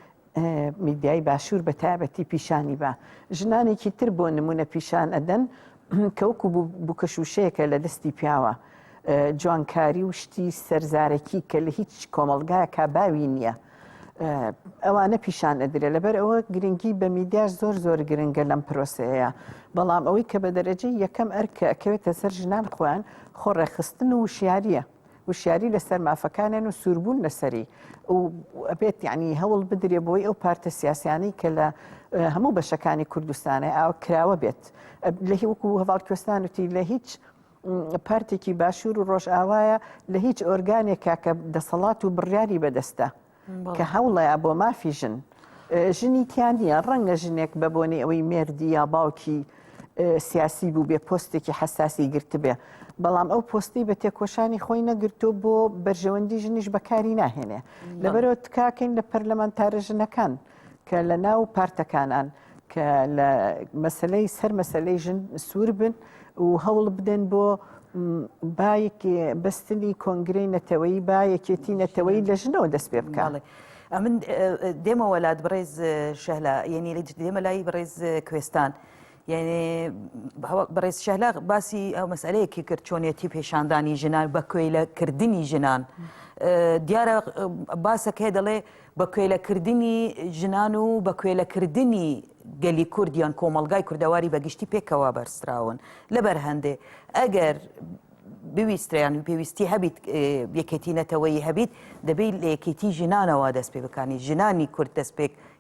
[SPEAKER 2] میدیای باشوور بە تایبەتی پیشانی بە ژنانێکی تر بۆ نمونە پیشان ئەدەن کەوکو بکەشوشەیەکە لە دەستی پیاوە جوانکاری و شتی سەرزارەکی کە لە هیچ کۆمەلگایە کا باوی نییە. ئەوانە پیشان ئەدرێ لەبەر ئەوە گرنگی بە میدیاش زۆر زۆر گرنگە لەم پرۆسەیە بەڵام ئەوەی کە بە دەرەجەی یەکەم ئەرکە ئەکەوێتە سەر ژنان خۆیان خۆ ڕێخستن و وشیاریە وشیاری لەسەر مافەکانیان و سووربوون لەسەری و ئەبێت یعنی هەوڵ بدرێ بۆی ئەو پارتە سیاسیانی کە لە هەموو بەشەکانی کوردستانە ئاوە کراوە بێت لە هیوکو هەواڵکوێستانەتی لە هیچ پارتێکی باشوور و ڕۆژئاوایە لە هیچ ئۆرگانێکا کە دەسەڵات و بڕیاری بەدەستە کە هەوڵەیە بۆ مافی ژن ژنی تیان نییە ڕەنگە ژنێک بە بۆنی ئەوەی مێردی یا باوکی سیاسی بوو بێ پۆستێکی حساسی گرتبێ بەڵام ئەو پۆستی بە تێکۆشانی خۆی نەگرتو بۆ بەرژەوەندی ژنیش بەکاری ناهێنێ لەبەرەوە تکاکەین لە پەرلەمانتارە ژنەکان کە لە ناو پارتەکانان کە لە مەسلەی سەر مەسلەی ژن سوور بن و هەوڵ بدەن بۆ باەکی بەستنی کۆنگرەی نەتەوەی با یەکێتی نەتەوەی لە ژنەوە دەست پێ بکڵێ. ئەمن
[SPEAKER 1] دێمە وەلات بڕێز شەهلا یەنی لە دێمە لای بڕێز کوێستان. یعنی بەڕێز شەهلا باسی ئەو مەسئلەیەکی کرد چۆنیەتی پێشاندانی ژنان بە کوێلە کردنی ژنان دیارە باسەکەی دەڵێ بە کوێلەکردنی ژنان و بە کوێلەکردنی گەلی کوردیان کۆمەلگای کوردەواری بەگشتی پێکەوە بەرسراون لەبەر هەندێ ئەگەر بویستریان و پێویستی هەبیت یەکێتی نەتەوەی هەبیت دەبیت لە یەکێتی ژنانەوە دەست پێ بکانی ژنانی کورد دەست پێک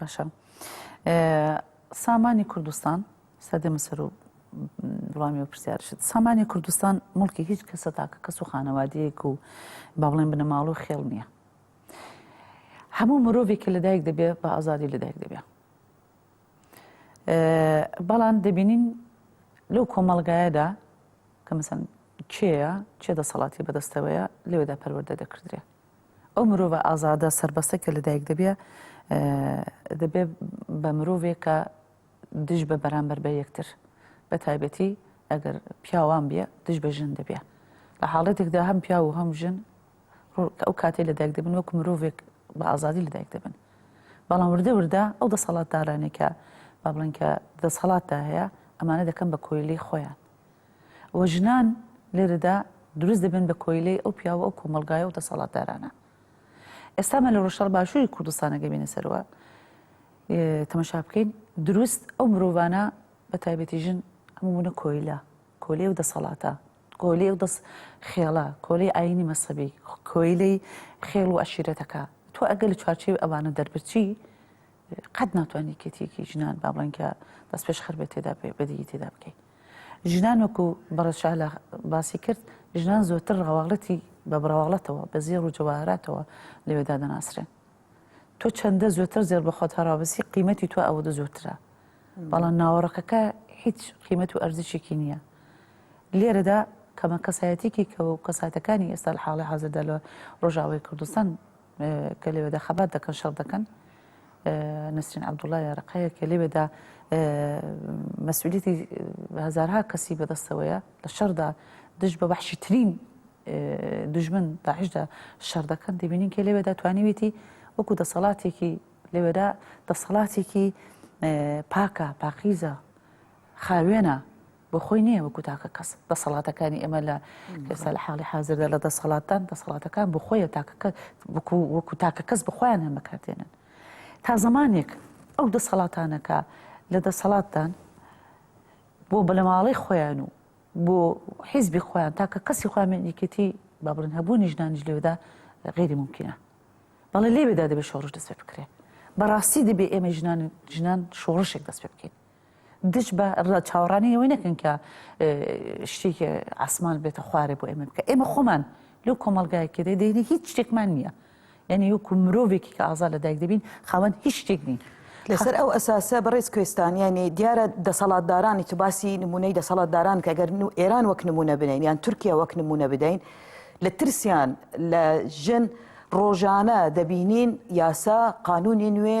[SPEAKER 3] باشە سامانی کوردستان سەدەمە سەر و وڵامی و پرسیارشت سامانی کوردستان مڵکی هیچ کەسە تاکە کەس و خانەوادەیەک و با بڵێن بنەماڵ و خێڵ نییە هەموو مرۆڤێکی لەدایک دەبێ بە ئازادی لەدایک دەبێ بەڵام دەبینین لەو کۆمەڵگایەدا کە مەسەن کێە چێ دەسەڵاتی بەدەستەوەیە لەوێدا پەروەەردە دەکردرێ ئەو مرۆڤە ئازادە سەربەستە کە لەدایک دەبێ، دەبێ بە مرۆڤێکە دژ بە بەرامبەر بە یەکتر، بە تایبەتی ئەگەر پیاوان بێ دژ بە ژن دەبێ، لە حاڵەتێکدا هەم پیاو و هەم ژن ئەو کاتەی لەدایک دەبن وەکو مرۆڤێک بە ئازادی لەدایک دەبن. بەڵام وردە وردە ئەو دەسەڵاتدارانەی کە با بڵێن کە دەسەڵاتدا هەیە، ئەمانە دەکەن بە کۆیلەی خۆیان. و ژنان لێرەدا دروست دەبن بە کۆیلەی ئەو پیاو و ئەو کۆمەڵگایە و دەسەڵاتدارانە. ئێستا ئەمە لە ڕۆژهەڵ باشووری کوردستان ئەگەر بێینە سەرەوە تەمەشا بکەین دروست ئەو مرۆڤانە بە تایبەتی ژن هەموو بوونە کۆیلە کۆلێ و دەسەڵاتە کۆلێ و دەست خێڵە کۆلەی ئاینی مەسەبی کۆیلەی خێڵ و عشیرەتەکە تۆ ئەگەر لە چوارچێوی ئەوانە دەربچی قەت ناتوانانی کێتیەکی ژنان با بڵێن کە دەست پێش خەربێت تێدا بێ بەدیی تێدا بکەیت ژنان وەکو بەڕێز شالا باسی کرد، ژنان زۆرتر ڕواڵەتی بە بڕواڵەتەوە، بە زێڕ و جەواهەراتەوە لەوێ دادەناسرێن. تۆ چەندە زۆرتر زێڕ بە خۆت هەڕابەسی، قیمەتی تۆ ئەوەدە زۆرترە. بەڵام ناوەڕۆکەکە هیچ قیمەت و ئەرزشێکی نییە. لێرەدا کەمە کەسایەتیکی کە و کەساتەکانی ئێستا لە حاڵی حازردا لە ڕۆژاوای کوردستان، کە لەوێدا خەبات دەکەن شەڕ دەکەن نەسرین عبدوڵای یارەقەیە کە لەوێدا مەسئولیتی هزارها کەسی بەدەستەوەیە لە شەردا دژ بە بەحشی ترین دژمن داعشدا شەر دەکەن دەبینین کە لەوێدا توانیویەتی وەکو دەسەڵاتێکی لەوێدا دەسەڵاتێکی پاکە پاقیزە خاوێنە بۆ خۆی نیە وەکو تاکە کەس دەسەڵاتەکانی ئێمە لە ئێستا لە حاڵی حازردا لە دەسەڵاتدان دەسەڵاتەکان بۆ خۆیە تاکە کە وەکو وەکو تاکە کەس بە خۆیان هەن بەکاردێنن تا زمانێک ئەو دەسەڵاتانەکە لە دەسەڵاتدان بۆ بەلەماڵەی خۆیان و بۆ حیزبی خۆیان تاکە کەسی خۆیان یەکێتی با بڵێن هەبوونی ژنانیش لێودا غیری ممکنە بەڵێ لێوێدا دەبێت شۆڕش دەست پێ بکرێت بەڕاستی دەبێ ئێمە ژنان ژنان شۆڕشێک دەست پێ بکەین دژ بە ڕە چاوەڕانی ئەوەی نەکەن کە شتێکی عسمان بێتە خوارێ بۆ ئێمە بکە ئێمە خۆمان لەو کۆمەلگایەکە دێ دەینە هیچ شتێکمان نییە یعنی وەکو مرۆڤێکی کە ئازا لە دایک دەبین خاوەن هیچ شتێک نین لەسەر ئەو ئەساسە
[SPEAKER 1] بەڕێز کوێستان یعنی دیارە دەسەڵاتدارانی تو باسی نمونەی دەسەڵاتداران کە گەر ئێران وەک نمونە بنین یان تورکیا وەک نمونە بدەین لە ترسیان لە ژن ڕۆژانە دەبینین یاسا قانونی نوێ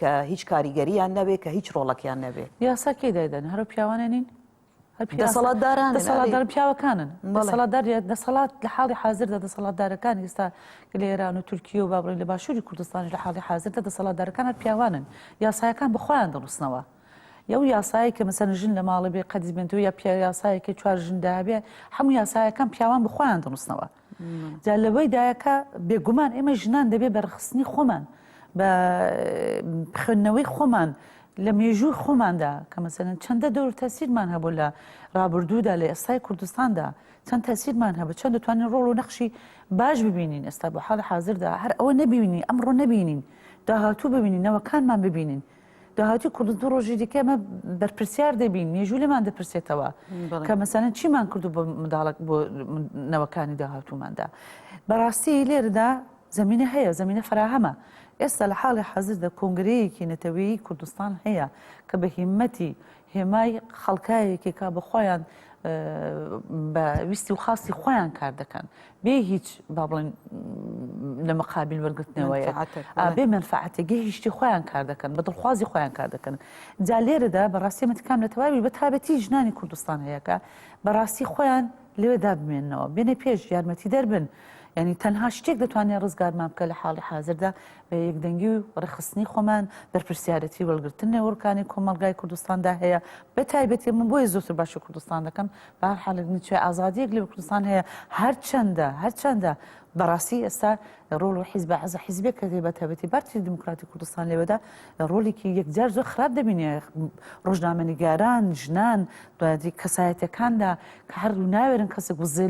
[SPEAKER 1] کە هیچ کاریگەریان نەبێ کە هیچ ڕۆڵەکیان نەبێ. یاسا کێی دایدەنێ
[SPEAKER 3] هەروا پیاوانێ نین؟ دەسەڵاتدارانن دەسەڵاتدار
[SPEAKER 1] پیاوەکانن دەسەڵاتدار
[SPEAKER 3] دەسەڵات لە حاڵی حازردا دەسەڵاتدارەکان ئێستا لە ئێران و تورکیە و بابڕین لە باشووری کوردستانیش لە حاڵی حازردا دەسەڵاتدارەکان هەر پیاوانن یاسایەکان بەخۆیان دەڕستنەوە یو یاسایی کە مەسەن ژن لە ماڵە بێ قەدیمێنەوە یا پیا یاسایەکە چوار ژندا هەبێ هەموو یاسایەکان پیاوان بخۆیان دەڕستنەوە جا لەوەی دایە کە بێگومان ئێمە ژنان دەبێ بە ڕخستنی خۆمان بە خوێندنەوەی خۆمان لە مێژووی خۆماندا کە مەسەن چەندە دەور تەسیرمان هەبوو لە ڕابردوودا لە ئێستای کوردستاندا چەند تەسیرمان هەبوو چەند دەتوانین ڕۆڵ و نەخشی باش ببینین ئێستا بۆ حاڵ حاضردا هەر ئەوە نەبینی ئەمڕۆ نەبینین داهاتوو ببینینەوەکانمان ببینین داهاتووی کورد دوو ڕۆژی دیکە ئێمە بەرپرسیار دەبین مێژوو لێمان دەپرسێتەوە بەڵێ. کە مەسەن چیمان کردو بۆ منداڵک بۆ من- نەوەکانی داهاتووماندا بەڕاستی لێرەدا زمینە هەیە زمینە فراهەمە ئێستا لە حاڵی حازردا کۆنگرەیەکی نەتەوەیی کوردستان هەیە کە بە هیمەتی هێمای خەڵکایەکێکە بە خۆیان بە ویستی و خواستی خۆیان کار دەکەن بێ هیچ با بڵێن لە مەقابل وەرگرتنەوەیە بێ منفعاتێگە هیشتی خۆیان کار دەکەن بە دڵخوازی خۆیان کار دەکەن جا لێرەدا بەڕاستی متکام لە تەواوی بە تابەتی ژنانی کوردستان هەیەکە بەڕاستی خۆیان لێدا بمێنەوە بێنە پێش یارمەتی دەربن. ینی تەنها شتێک دەتوانێت ڕزگارمان بکە لە حاڵی حاضردا بە یەکدەنگی و ڕێکخستنی خۆمان بەرپرسیارەتی وەرگرتن لە وەرکانی کۆمەڵگای کوردستاندا هەیە بە تایبەتی من بۆیە زۆرتر باشی کوردستان دەکەم بە هەر حالێک نیچێ ئازادیەک لە کوردستان هەیە هەرچەندە هەرچەندە بەڕاستی ئێستا ڕۆڵ و حیزب عزە حیزبێک کە بە تابەتی پارتی دیموکراتی کوردستان لێوەدا ڕۆلێکی یەکجار زۆر خراپ دەبینێ ڕۆژنامەنیگاران ژنان دوادی کەسایەتەکاندا کە هەر ناوێرن کەسێک وزێ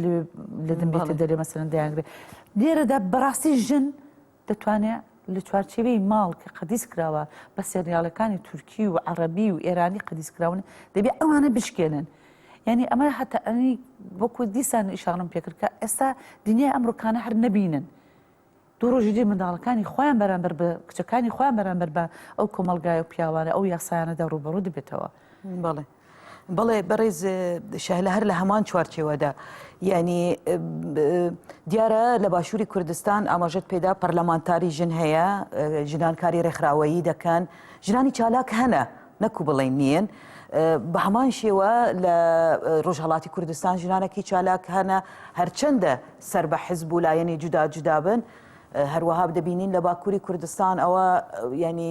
[SPEAKER 3] لە دەمبێتە دەرێ مەسەرەن دەیانگرێت لێرەدا بەڕاستی ژن دەتوانێ لە چوارچێوەی ماڵ کە قەدیس کراوە بە سێریاڵەکانی تورکی و عەڕەبی و ئێرانی قەدیس کراون دەبێ ئەوانە بشکێنن یعنی ئەمە هەتا ئەنی وەکو دیسان ئیشاڕم پێکرد کە ئێستا دنیای ئەمڕۆکانە هەر نەبینن دوو ڕۆژی دی منداڵەکانی خۆیان بەرامبەر بە کچەکانی خۆیان بەرامبەر بە ئەو کۆمەلگای و پیاوانە ئەو یاسایانەدا ڕوبەڕوو دەبێتەوە بەڵێ
[SPEAKER 1] بەڵێ بەڕێز شەهلە هەر لە هەمان چوارچێوەدا یعنی دیارە لە باشووری کوردستان ئاماژەت پێدا پەرلەمانتاری ژن هەیە ژنان کاری ڕێکخراوەیی دەکەن ژنانی چالاک هەنە نەکو بڵێن نییە بە هەمان شێوە لە ڕۆژهڵاتی کوردستان ژنانەکی چالاک هەنە هەرچەندە سەر بە حزب و لایەنی جودا جودابن هەروەها دەبینین لە باکووری کوردستان ئەوە ینی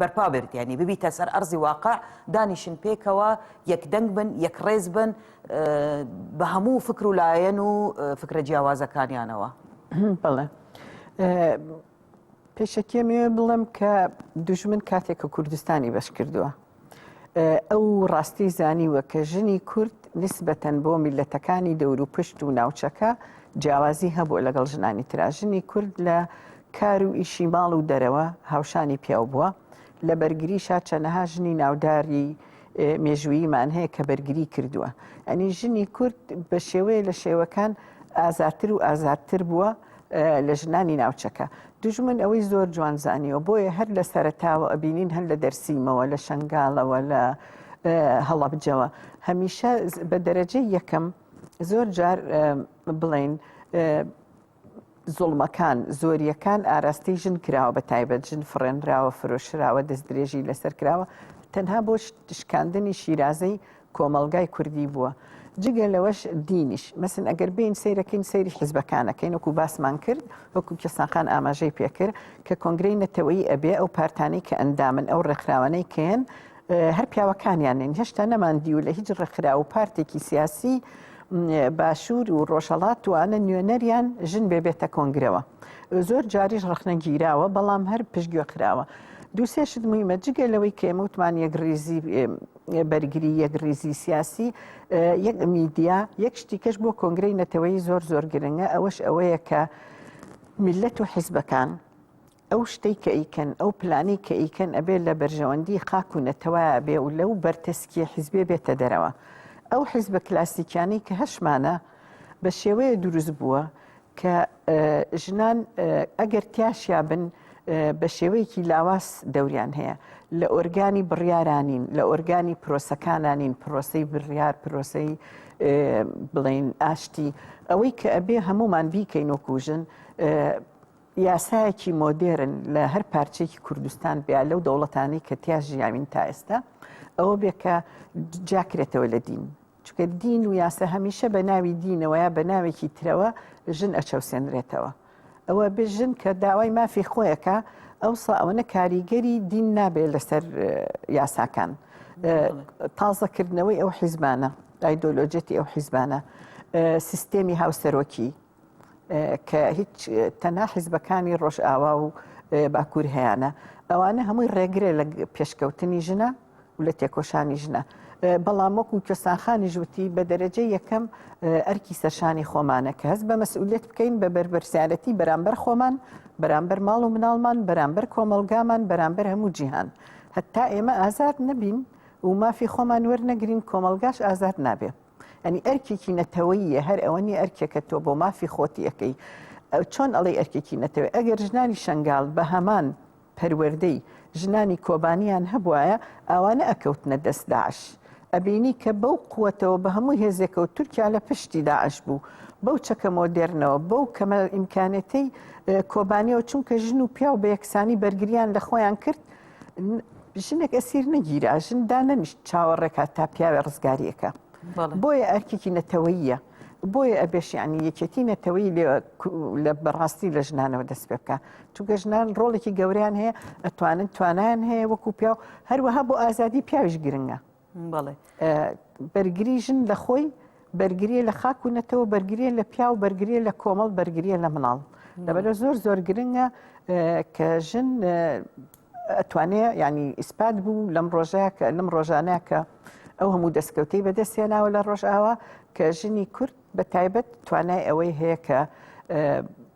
[SPEAKER 1] بەرپا بێت یانی ببیتە سەر ئەرزی واقع دانیشن پێکەوە یەک دەنگ بن یەک ڕێز بن بە هەموو فکر و لایەن و فکرە جیاوازەکانیانەوە بڵێ
[SPEAKER 2] پێشەکێ مێ بڵم کە دژمن کاتێک کە کوردستانی بەش کردووە ئەو ڕاستی زانیوە کە ژنی کورد نسبەتەن بۆ میلەتەکانی دەوروپشت و ناوچەکە جیاوازی هەبوو لەگەڵ ژنانی تراژنی کورد لە کار و ئیشی ماڵ و دەرەوە هاوشانی پیاو بووە لە بەرگری شا چەنەها ژنی ناوداری مێژوویمان هەیە کە بەرگری کردووە ئەنی ژنی کورد بە شێوەیە لە شێوەکان ئازاتر و ئازادتر بووە لە ژنانی ناوچەکە دژمن ئەوەی زۆر جوان زانیەوە بۆیە هەر لە سەرتاوە ئەبینین هەر لە دەرسیمەوە لە شنگالەوە لە هەڵەبجەوە هەمیشە بە دەرەجەی یەکەم زۆر جار بڵین زۆڵمەکان زۆریەکان ئاراستەی ژن کراوە بە تایبەت ژن فڕێنراوە فرۆشراوە دەست درێژی لەسەر کراوە تەنها بۆ شکاندنی شیرازەی کۆمەڵگای کوردی بووە جگە لەوەش دینیش مەسن ئەگەر بین سیرەکەین سەیری حزبەکانەکەین وەکو باسمان کرد وەکو کەساقان ئاماژەی پێکرد کە کۆنگرەی نەتەوەی ئەبێ ئەو پارتانی کە ئەندامن ئەو ڕێکخراوانەی کەن هەر پیاوەکانیانن هێشتا نەمان دیو لە هیچ ڕێکخرا و پارتێکی سیاسی باشوور و ڕۆژەڵات توانە نوێنەریان ژن بێبێتە کۆنگرەوە زۆر جاریش ڕخنە گیراوە بەڵام هەر پشتگوێ خراوە دووسێشت مهمە جگە لەوەی کێمەوتمان یەکڕیزی بەرگری یەک ریزی سیاسی یەک میدیا یەک شتیکەش بۆ کۆنگرەی نەتەوەی زۆر زۆر گرنگە ئەوەش ئەوەیە کە میلەت و حیزبەکان ئەو شتەی کە ئیکەن ئەو پلانی کە ئیکەن ئەبێ لە بەرژەوەندی خاک و نەتەوە بێ و لەو بەرتەسکی حیزبێ بێتە دەرەوە ئەو حیزبە کلاسیکیانی کە هەشمانە بە شێوەیە دروست بووە کە ژنان ئەگەر تیاشیا بن بە شێوەیەکی لاواز دەوریان هەیە لە ئۆرگانی بڕیارانین لە ئۆرگانی پرۆسەکانانین پرۆسی بڕیار پرۆسی بڵین ئاشتی ئەوەی کە ئەبێ هەمومان بیکەین و کوژن یاسایەکی مۆدێرن لە هەر پارچێکی کوردستان بیا لەو دەوڵەتانی کە تیا ژیاوین تا ئێستا ئەوە بێکە جاکرێتەوە لە دین چونکە دین و یاسا هەمیشە بە ناوی دینەوە یا بە ناوێکی ترەوە ژن ئەچەوسێنرێتەوە ئەوە بێ ژن کە داوای مافی خۆیەکە ئەوسا ئەوەنە کاریگەری دین نابێت لەسەر یاساکان تازەکردنەوەی ئەو حیزبانە ئایدۆلۆجێتی ئەو حیزبانە سیستێمی هاوسەرۆکی کە هیچ تەنا حیزبەکانی ڕۆژئاوا و باکوور هەیەە ئەوانە هەمووی ڕێگرێ لە پێشکەوتنی ژنە و لە تێکۆشانی ژنە بەڵام وەکو کەسانخانی ژووتی بە دەرەجە یەکەم ئەرکی سەرشانی خۆمانە کە هەست بە مەسئولێت بکەین بە بەربەرسیارەتی بەرامبەر خۆمان بەرامبەر ماڵ و مناڵمان بەرامبەر کۆمەلگامان بەرامبەر هەموو جیهان هەتا ئێمە ئازاد نەبین و مافی خۆمان وەرنەگرین کۆمەلگاش ئازاد نابێت. ئەنی ئەرکێکی نەتەوەیە هەر ئەوە نیە ئەرکێکە تۆ بۆ مافی خۆتی ئەەکەی چۆن ئەڵی ئەرکێکی نەتەوەی ئەگەر ژنانی شنگال بە هەمان پەروەردەی ژنانی کۆبانیان هەبواە ئەوانە ئەکەوتنە دەست داعش. ئەبینی کە بەو قوتەوە بە هەموو هێزێکەوە تورکیا لە پشتی داعش بوو بەو چەکە مۆدێرنەوە بەو کەمە ئیمکانەتەی کۆبانیەوە چونکە ژن و پیاو بە یەکسانی بەرگریان لە خۆیان کرد ژنێک ئەسیر نەگیرا ژن دانەنیشت چاوە ڕێکات تا پیاوێ ڕزگاریەکە بۆیە ئەرکێکی نەتەوەییە بۆیە ئەبێشیانی یەکێتی نەتەوەی لە بەڕاستی لە ژنانەوە دەست پێ بکە چونکە ژنان ڕۆڵێکی گەوریان هەیە ئەتوانن توانیان هەیە وەکو پیا و هەروەها بۆ ئازادی پیاویش گرنگە بەڵێ بەرگری ژن لە خۆی بەرگریە لە خاک و نەتەوە بەرگریە لە پیا و بەرگریە لە کۆمەڵ بەرگریە لە مناڵ لەبەر زۆر زۆر گرنگە کە ژن ئەتوانێ ینی ئیسپات بوو لەم ڕۆژەیە کە لەم ڕۆژانە کە ئەو هەموو دەستکەوتەی بەدەستێناوە لە ڕۆژئاوا کە ژنی کورد بە تایبەت توانای ئەوەی هەیە کە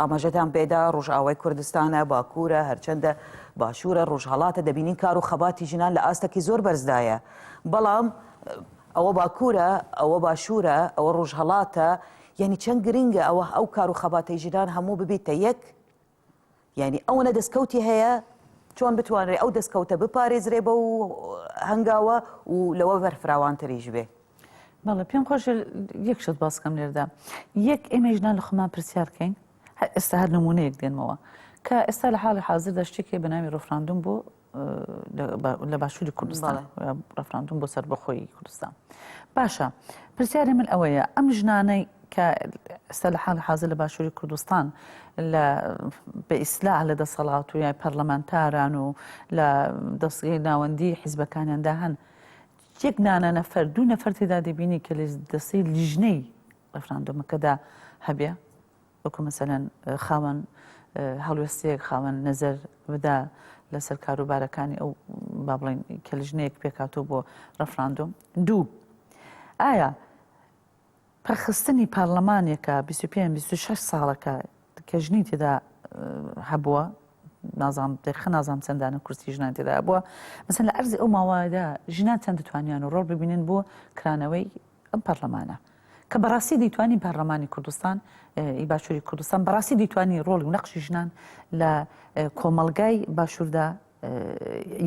[SPEAKER 1] ئاماژەتان پێدا ڕۆژئاوای کوردستانە، باکوورە، هەرچەندە باشوورە، ڕۆژهەڵاتە، دەبینین کار و خەباتی ژنان لە ئاستەکی زۆر بەرزدایە، بەڵام ئەوە باکوورە، ئەوە باشوورە، ئەوە ڕۆژهەڵاتە، یانی چەند گرنگە ئەوه ئەو کار و خەباتەی ژنان هەموو ببیتە یەک، یانی ئەوەنە دەستکەوتی هەیە چۆن بتوانرێ ئەو دەستکەوتە بپارێزرێ بەو هەنگاوە و لەوە بەرفراوانتریش بێ. بەڵێ پێم
[SPEAKER 3] خۆش یەک شت باسکەم لێردا یەک ئێمە ژنان لە خۆمان پرسیار بکەین ئێستا هەر نمونەیەک دێنمەوە کە ئێستا لە حاڵی حاضردا شتێکی بە ناوی ڕفراندوم بۆ لە باشووری کوردستان ڕفراندوم بۆ سەربەخۆی کوردستان باشە پرسیاری من ئەوەیە ئەم ژنانەی کە ئستا لە حال حاضر لە باشووری کوردستان لە بە ئیسلاح لە دەسەڵات و یای پەرلەمانتاران و لە دەستگەی ناوەندی حیزبەکانیاندا هەن یەک نانە نەفەر دوو نەفەر تێدا دەبینی کە لە دەستی لیژنەی ڕفراندۆمەکەدا هەبێ وەکو مەسەلەن خاوەن هەڵوێستەیەک، خاوەن نەزەر بدا لەسەر کاروبارەکانی ئەو با بڵێن کە لیژنەیەک پێکاتۆ بۆ ڕەفراندۆم دوو ئایا پەخستنی پارلەمانێکە 25 ساڵەکە کە ژنی تێدا هەبووە نازام دەخە نازام چەندانە کورسی ژنان تێدا بووە مەسەن لە ئەرزی ئەو ماوەدا ژنان چەند دەتوانیان و ڕۆڵ ببینن بۆ کرانەوەی ئەم پەرلەمانە کە بەڕاستی دەیتوانی پەرلەمانی کوردستان ی باشووری کوردستان بەڕاستی دەیتوانی ڕۆڵی و نەقشی ژنان لە کۆمەڵگای باشووردا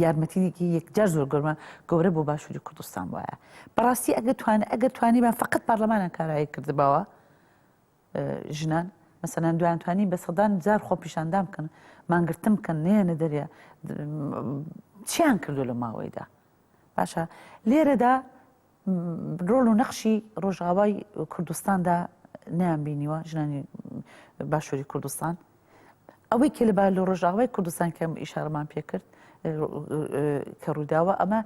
[SPEAKER 3] یارمەتیدێکی یەکجار زۆر گەورمە گەورە بۆ باشووری کوردستان وایە بەڕاستی ئەگە توان ئەگەر توانیمان فقط پەرلەمانە کارایی کردبەوە ژنان مەسەنان دویانتوانی بە سەدان جار خۆ پیشاندام بکەن مانگرتم بکەن نێنە دەریا چیان کردو لە ماوەیدا باشە لێرەدا ڕۆڵ و نەخشی ڕۆژاوای کوردستاندا نیان بینیوە ژنانی باشووری کوردستان ئەوەی کە لە با لە ڕۆژاوای کوردستان کەم ئیشارمان پێکرد کە ڕووداوە ئەمە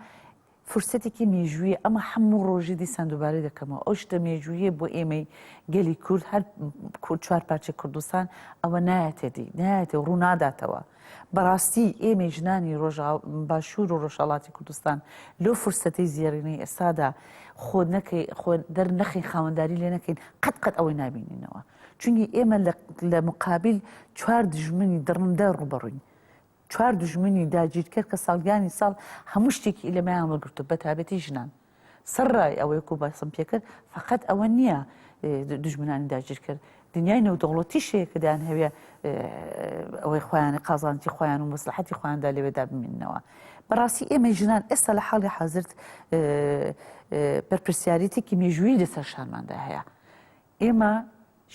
[SPEAKER 3] فرسەتێکی مێژوویە ئەمە هەموو ڕۆژی دیسان دووبارەی دەکەمەوە ئەو شتە مێژوویە بۆ ئێمەی گەلی کورد هەر کورد چوار پارچە کوردستان ئەوە نایەتێتی نایەتێ ڕووناداتەوە بەڕاستی ئێمەی ژنانی ڕۆژاو باشوور و ڕۆژهەڵاتی کوردستان لەو فرسەتەی زێڕینەی ئێستادا خۆ نەکەی خۆ دەرنەخین خاوەنداری لێ نەکەین قەت قەت ئەوەی نابینینەوە چونی ئێمە لە مقابل چوار دژمنی دڕندە ڕوبەڕوین چوار دژمنی داگیرکەر کە ساڵگانی ساڵ هەموو شتێکی لەمەیان وەگرتو بەتابەتی ژنان سڕای ئەوەی کوباسم پێ کرد فەقەت ئەوە نییە دوژمنانی داگیر کرد دنیای نێودەوڵەتیشەیە کە دەیان هەوێ ئەوەی خۆیانی قازانتی خۆیان و مەسلحەتی خۆیاندا لەوێدا بمینەوە بەڕاستی ئێمە ژنان ئێستا لە حاڵی حازرت بەرپرسیارێتێکی مێژووی لەسەر شانماندا هەیە ئێمە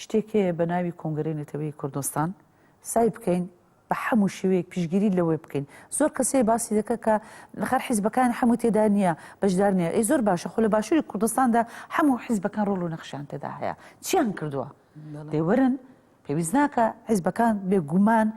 [SPEAKER 3] شتێک هەیە بە ناوی کۆنگرەی نەتەوەیی کوردستان سای بکەین بە حەموو شێوەیەک پیشگیری لەوەی بکەین زۆر کەسەی باسی دەکە کە خەر حیزبەکان حەموو تێدا نییە بەشدار نیە ئەی زۆر باشە خۆ لە باشووری کوردستاندا حەموو حیزبەکان ڕۆڵ و نەخشیان تێدا هەیە چیان کردووە دەیوەرن پێویست ناکە حیزبەکان بێگومان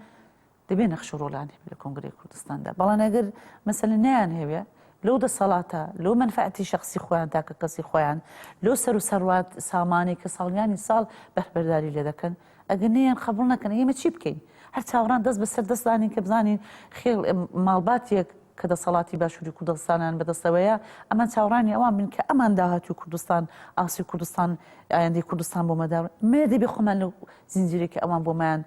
[SPEAKER 3] دەبێ نەخش و ڕۆڵیان هەبێ لە کۆنگرەی کوردستاندا، بەڵام ئەگەر مەسەلەن نەیانهەوێ لەو دەسەڵاتە، لەو مەنفەعەتی شەخسی خۆیان، تاکەکەسی خۆیان، لەو سەروسەڕوات سامانەی کە ساڵیانی ساڵ بەهرەبەرداری لێ دەکەن، ئەگەر نەیان قەبووڵ نەکەن ئێمە چی بکەین؟ هەر چاوڕان دەست بەسەر دەست دانێین کە بزانین خێڵ، ماڵباتێک، کە دەسەڵاتی باشوری کوردستانیان بەدەستەوەیە، ئەمان چاوەڕانی ئەوان بن کە ئەمان داهاتوی کوردستان، ئاستی کوردستان، ئایندەی کوردستان بۆ مەدا بن. مەیە دەبێ خۆمان لەو زنجیرەی کە ئەوان بۆمایان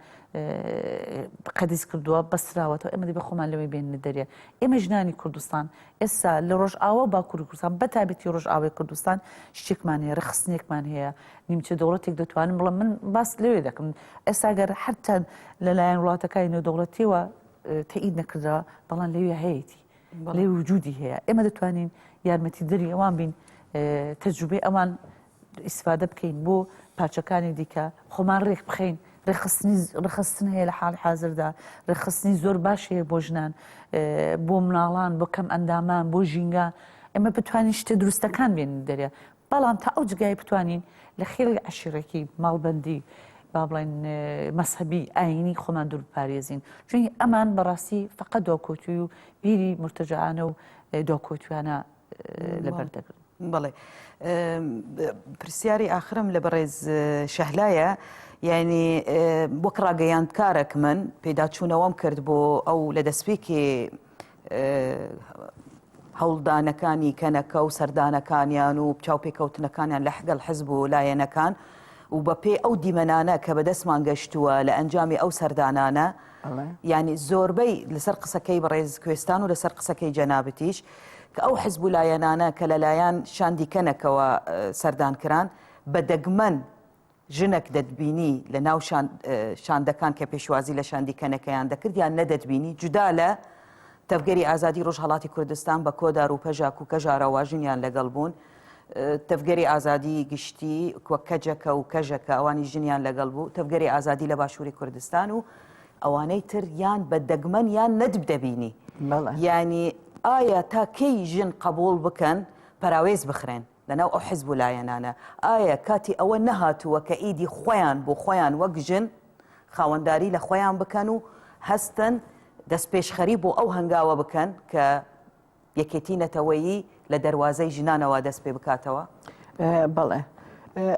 [SPEAKER 3] قەدیس کردووە، بەستراوەتەوە، ئێمە دەبێ خۆمان لەوەی بێننە دەرێ. ئێمە ژنانی کوردستان، ئێستا لە رۆژئاوا و باکوری کوردستان، بەتایبەتی رۆژئاوای کوردستان، شتێکمان هەیە، رخسنێکمان هەیە، نیمچە دەوڵەتێک دەتوانم بڵێم، من باس لەوێ دەکەم، ئێستا گەر هەر چەند لەلایەن وڵاتەکانی نێودەوڵەتییەوە، تەئید نەکردەوە بەڵام لەوێ هەیەی لەوێ وجودی هەیە ئێمە دەتوانین یارمەتی دەری ئەوان بین تەجروبەی ئەوان ئیسفادە بکەین بۆ پارچەکانی دیکە خۆمان ڕێک بخەین ڕێخستنی ڕخستن هەیە لە حاڵی حاضردا ڕێخستنی زۆر باش هەیە بۆ ژنان بۆ مناڵان بۆ کەم ئەندامان بۆ ژینگە ئەمە بتوانین شتە دروستەکان بێن دەرێ بەڵام تا ئەو جگای بتوانین لە خێڵی عشیڕێکی ماڵبەندی با بڵێن مەسەبی ئاینی خۆمان دوور بپارێزین چونی ئەمان بەڕاستی فقە دۆکۆتوی و بیری مرتجانە و دۆکۆتوانە لەبەر دەگرن بڵێ
[SPEAKER 1] پرسیاری ئاخرم لە بەڕێز شەهلایە یعنی وەک ڕاگەیاندکارێک من پێداچوونەوەم کرد بۆ ئەو لە دەستپێکی هەوڵدانەکانی کەنەکە و سەردانەکانیان و چاوپێکەوتنەکانیان لە حگەڵ حزب و لایەنەکان و بە پێی ئەو دیمەنانە کە بەدەستمان گەشتووە لە ئەنجامی ئەو سەردانانە ینی زۆربەی لەسەر قسەکەی بەڕێز کوێستان و لەسەر قسەکەی جەنابتیش کە ئەو حزب و لایەنانە کە لەلایەن شاندیکەنەکەوە سەردان کران بە دەگمەن ژنەک دەتبینی لە ناو شاندەکان کە پێشوازی لە شاندی کەنەکەیان دەکرد یان نەدەتبینی جودا لە تەڤگەری ئازادی ڕۆژهەڵاتی کوردستان بە کۆدار و پەژاک و کەژارە واژنیان لەگەڵ بوون تەڤگەری ئازادی گشتی کوە کەجەکە و کەژەکە ئەوانی ژنیان لەگەڵ بوو تەڤگەری ئازادی لە باشووری کوردستان و ئەوانەی تر یان بە دەگمەن یان نەدب دەبینی ینی ئایا تا کەی ژن قبول بکەن پەراوێز بخرێن لەناو ئەو حزب و لایەنانە، ئایا کاتی ئەوە نەهاتووە کە ئیدی خۆیان بۆ خۆیان وەک ژن خاوەنداری لە خۆیان بکەن و هەستن دەستپێشخەری بۆ ئەو هەنگاوە بکەن کە یەکێتی نەتەوەیی لە دەروازەی ژنانەوە دەست پێ بکاتەوە؟
[SPEAKER 2] بەڵێ.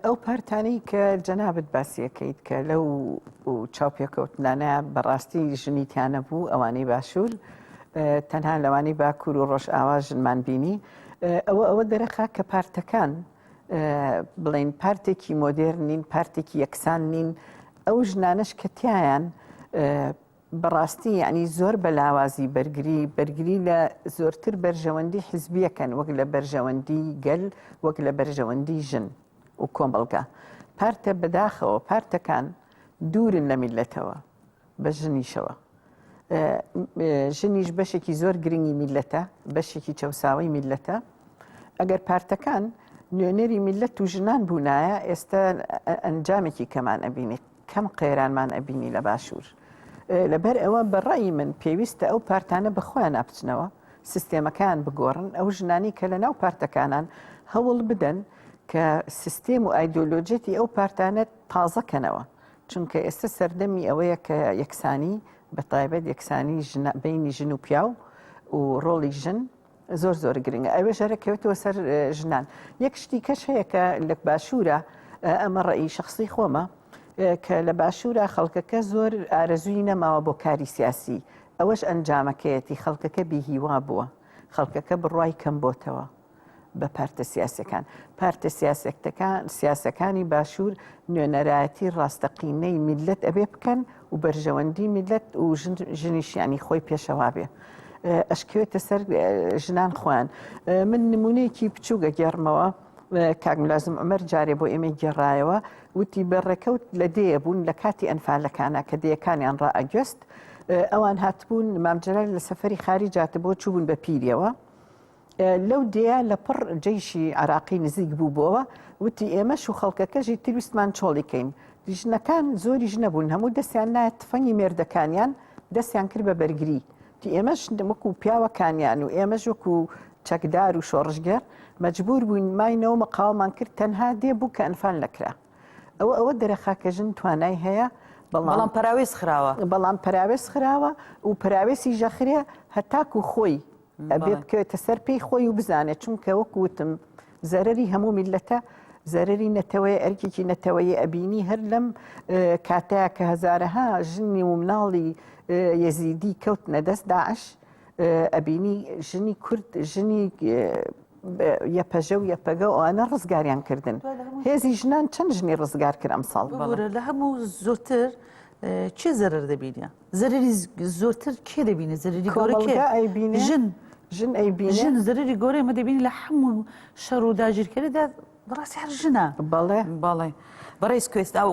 [SPEAKER 2] ئەو پارتانی کە جەنابت باسیەکەیت کە لەو چاوپێکەوتنانە بەڕاستی ژنی تیانە بوو ئەوانەی باشوور تەنها لەوانی باکوور و ڕۆژئاوا ژنمان بینی ئەوە ئەوە دەرەخا کە پارتەکان بڵین پارتێکی مۆدێر نین پارتێکی یەکسان نین ئەو ژنانش کە تیایان بەڕاستی یعنی زۆر بە لاوازی بەرگری بەرگری لە زۆرتر بەرژەوەندی حزبیەکەن وەک لە بەرژەوەندی گەل وەک لە بەرژەوەندی ژن و کۆمەڵگا پارتە بەداخەوە پارتەکان دوورن لە میلەتەوە بە ژنیشەوە ژنیش بەشێکی زۆر گرنگی میلەتە بەشێکی چەساوی میلەتە ئەگەر پارتەکان نوێنەری میلەت و ژنان بوونایە ئێستا ئەنجامێکی کەمان ئەبینی کەم قێرانمان ئەبینی لە باشوور لەبەر ئەوە بەڕی من پێویستە ئەو پارتانە بەخۆیان نابچنەوە سیستێمەکان بگۆڕن ئەو ژنانی کە لە ناو پارتەکانان هەوڵ بدەن کە سیستێم و ئایدۆلۆجێتی ئەو پارتانە تازەکەنەوە چونکە ئێستە سەردەمی ئەوەیە کە یەکسانی بە تایبەت یەکسانی بینی ژن و پیاو و ڕۆڵی ژن زۆر زۆر گرنگە ئەوێ ژەرە کەوتەوە سەر ژنان یەک شتی کەش هەیە کە لە باشوورە ئەمە ڕێی شخصی خۆمە کە لە باشوورە خەڵکەکە زۆر ئارەزووی نەماوە بۆ کاری سیاسی ئەوەش ئەنجامەکەیەتی خەڵکەکە بیهیوا بووە خەڵکەکە بڕای کەم بۆتەوە بە پارتە سیاسەکان. پارتە سیاسەکتەکان سیاسەکانی باشوور نوێنەرایەتی ڕاستەقینەی میللەت ئەبێ بکەن و بەرژەوەندی میللەت و ژنیشیانی خۆی پێشەوا بێ. ئەشکوێتە سەر ژنان خۆیان من نمونەیەکی بچووگە گێڕمەوە کاک ملازم ئەمەر جارێ بۆ ئێمە گێڕایەوە وتی بە ڕێکەوت لە دەیە بوون لە کاتی ئەنفالەکانە کە دەیەکانیان ڕائگەست ئەوان هاتبوون مامجلال لە سەفری خاری جاتە بۆ چوبوون بە پیریەوە لەو دێیە لەپڕ جەیشی عێراقی نزیک بوو بۆوە، وتی، ئێمەش و خەڵکەکەشی تر ویستمان چۆڵی کەین. ژنەکان زۆریش نەبوون، هەموو دەستیان نایە تفەنگی مێردەکانیان، دەستیان کرد بە بەرگری. وتی، ئێمەش وەکو پیاوەکانیان و ئێمەش وەکو چەکدار و شۆڕشگێڕ مەجبوور بووین ماینەوە مقاوەمان کرد، تەنها دێ بوو کە ئەنفال نەکرا. ئەوە ئەوە دەرەخا کە ژن توانای هەیە، بەڵام
[SPEAKER 1] پەراوێز خراوە. بەڵام پەراوێز
[SPEAKER 2] خراوە و پەراوێزیش ئەخرێ هەتاکو خۆی ئەبێ بکەوێتە سەر پێی خۆی و بزانێت چونکە وەکو وتم زەرری هەموو میلەتە زەرری نەتەوەی ئەرکێکی نەتەوەی ئەبینی هەر لەم کاتە کە هزارەها ژنی و مناڵی یەزیدی کەوت نەدەست داعش ئەبینی ژنی کورد ژنی یەپەژە و یەپەگە ئەوانە ڕزگاریان کردن هێزی ژنان چەند ژنی ڕزگار کرد ئەم ساڵ لە هەموو
[SPEAKER 3] زۆتر چێ زەرەر دەبینە زەرەری زۆرتر کێ دەبینێت زەرەری گەورە کێ کۆمەڵگا ئەیبینێ ژن
[SPEAKER 2] ژن ئەیبینێ ژن زەرەری گەورەی مە
[SPEAKER 3] دەبینی لە هەموو شەڕ و داگیرکەریدا بەڕاستی هەر ژنە بەڵێ باڵێ
[SPEAKER 1] بەڕێز کوێست ئەو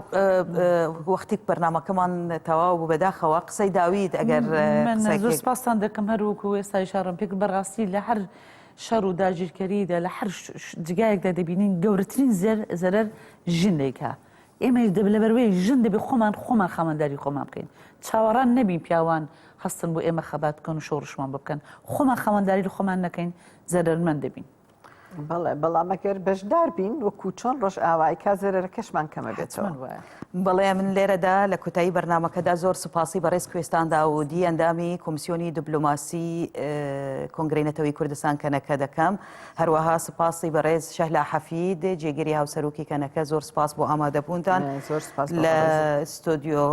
[SPEAKER 1] وەختیک بەرنمەکەمان تەواو بوو بەداخەوە قسەی داویت ئەگەر من قسەی زۆر کرد.
[SPEAKER 3] سپاستان دەکەم هەروەکو وێستای شارم پێک بەڕاستی لە هەر شەڕ و داگیرکەریدا لە هەر ش- ش- جگایەکدا دەبینین گەورەترین زەر زەرەر ژنێکە ئێمەیش دەبێت لەبەروەی ژن دەبێت خۆمان خۆمان خاوەنداری خۆمان بکەین چاوەڕان نەبین پیاوان هەستن بۆ ئێمە خەبات بکەن و شۆڕشمان بکەن خۆمان خاوەنداری لە خۆمان نەکەین زەرەرمەند دەبین. بەڵێ
[SPEAKER 2] بەڵامەگەر بەشدار بین وەکو چۆن ڕۆژ ئاوای کا زەرەرە کەشمان کەمە بێتەوە وایە بەڵێ من
[SPEAKER 1] لێرەدا لە کوتایی بەرنمەکەدا زۆر سوپاسی بەڕێز کوێستاندا و دی ئەندامی کۆمسیۆنی دبلوماسی کۆنگرینەتەوەی کوردستان کەنەکە دەکەم. هەروەها سپاسی بەڕێز شەهلا حەفید جێگری هاوسەرۆکی کەنەکە زۆر سپاس بۆ ئامادەبوونتان لە ستۆدیۆ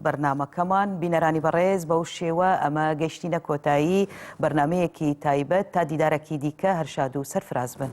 [SPEAKER 1] بەرنمەکەمان بینەرانی بەڕێز بەو شێوە ئەمە گەشتینە کۆتایی بەرنمەیەکی تایبەت تا دیدارەکی دیکە هەرشاد و سەرفراز بن.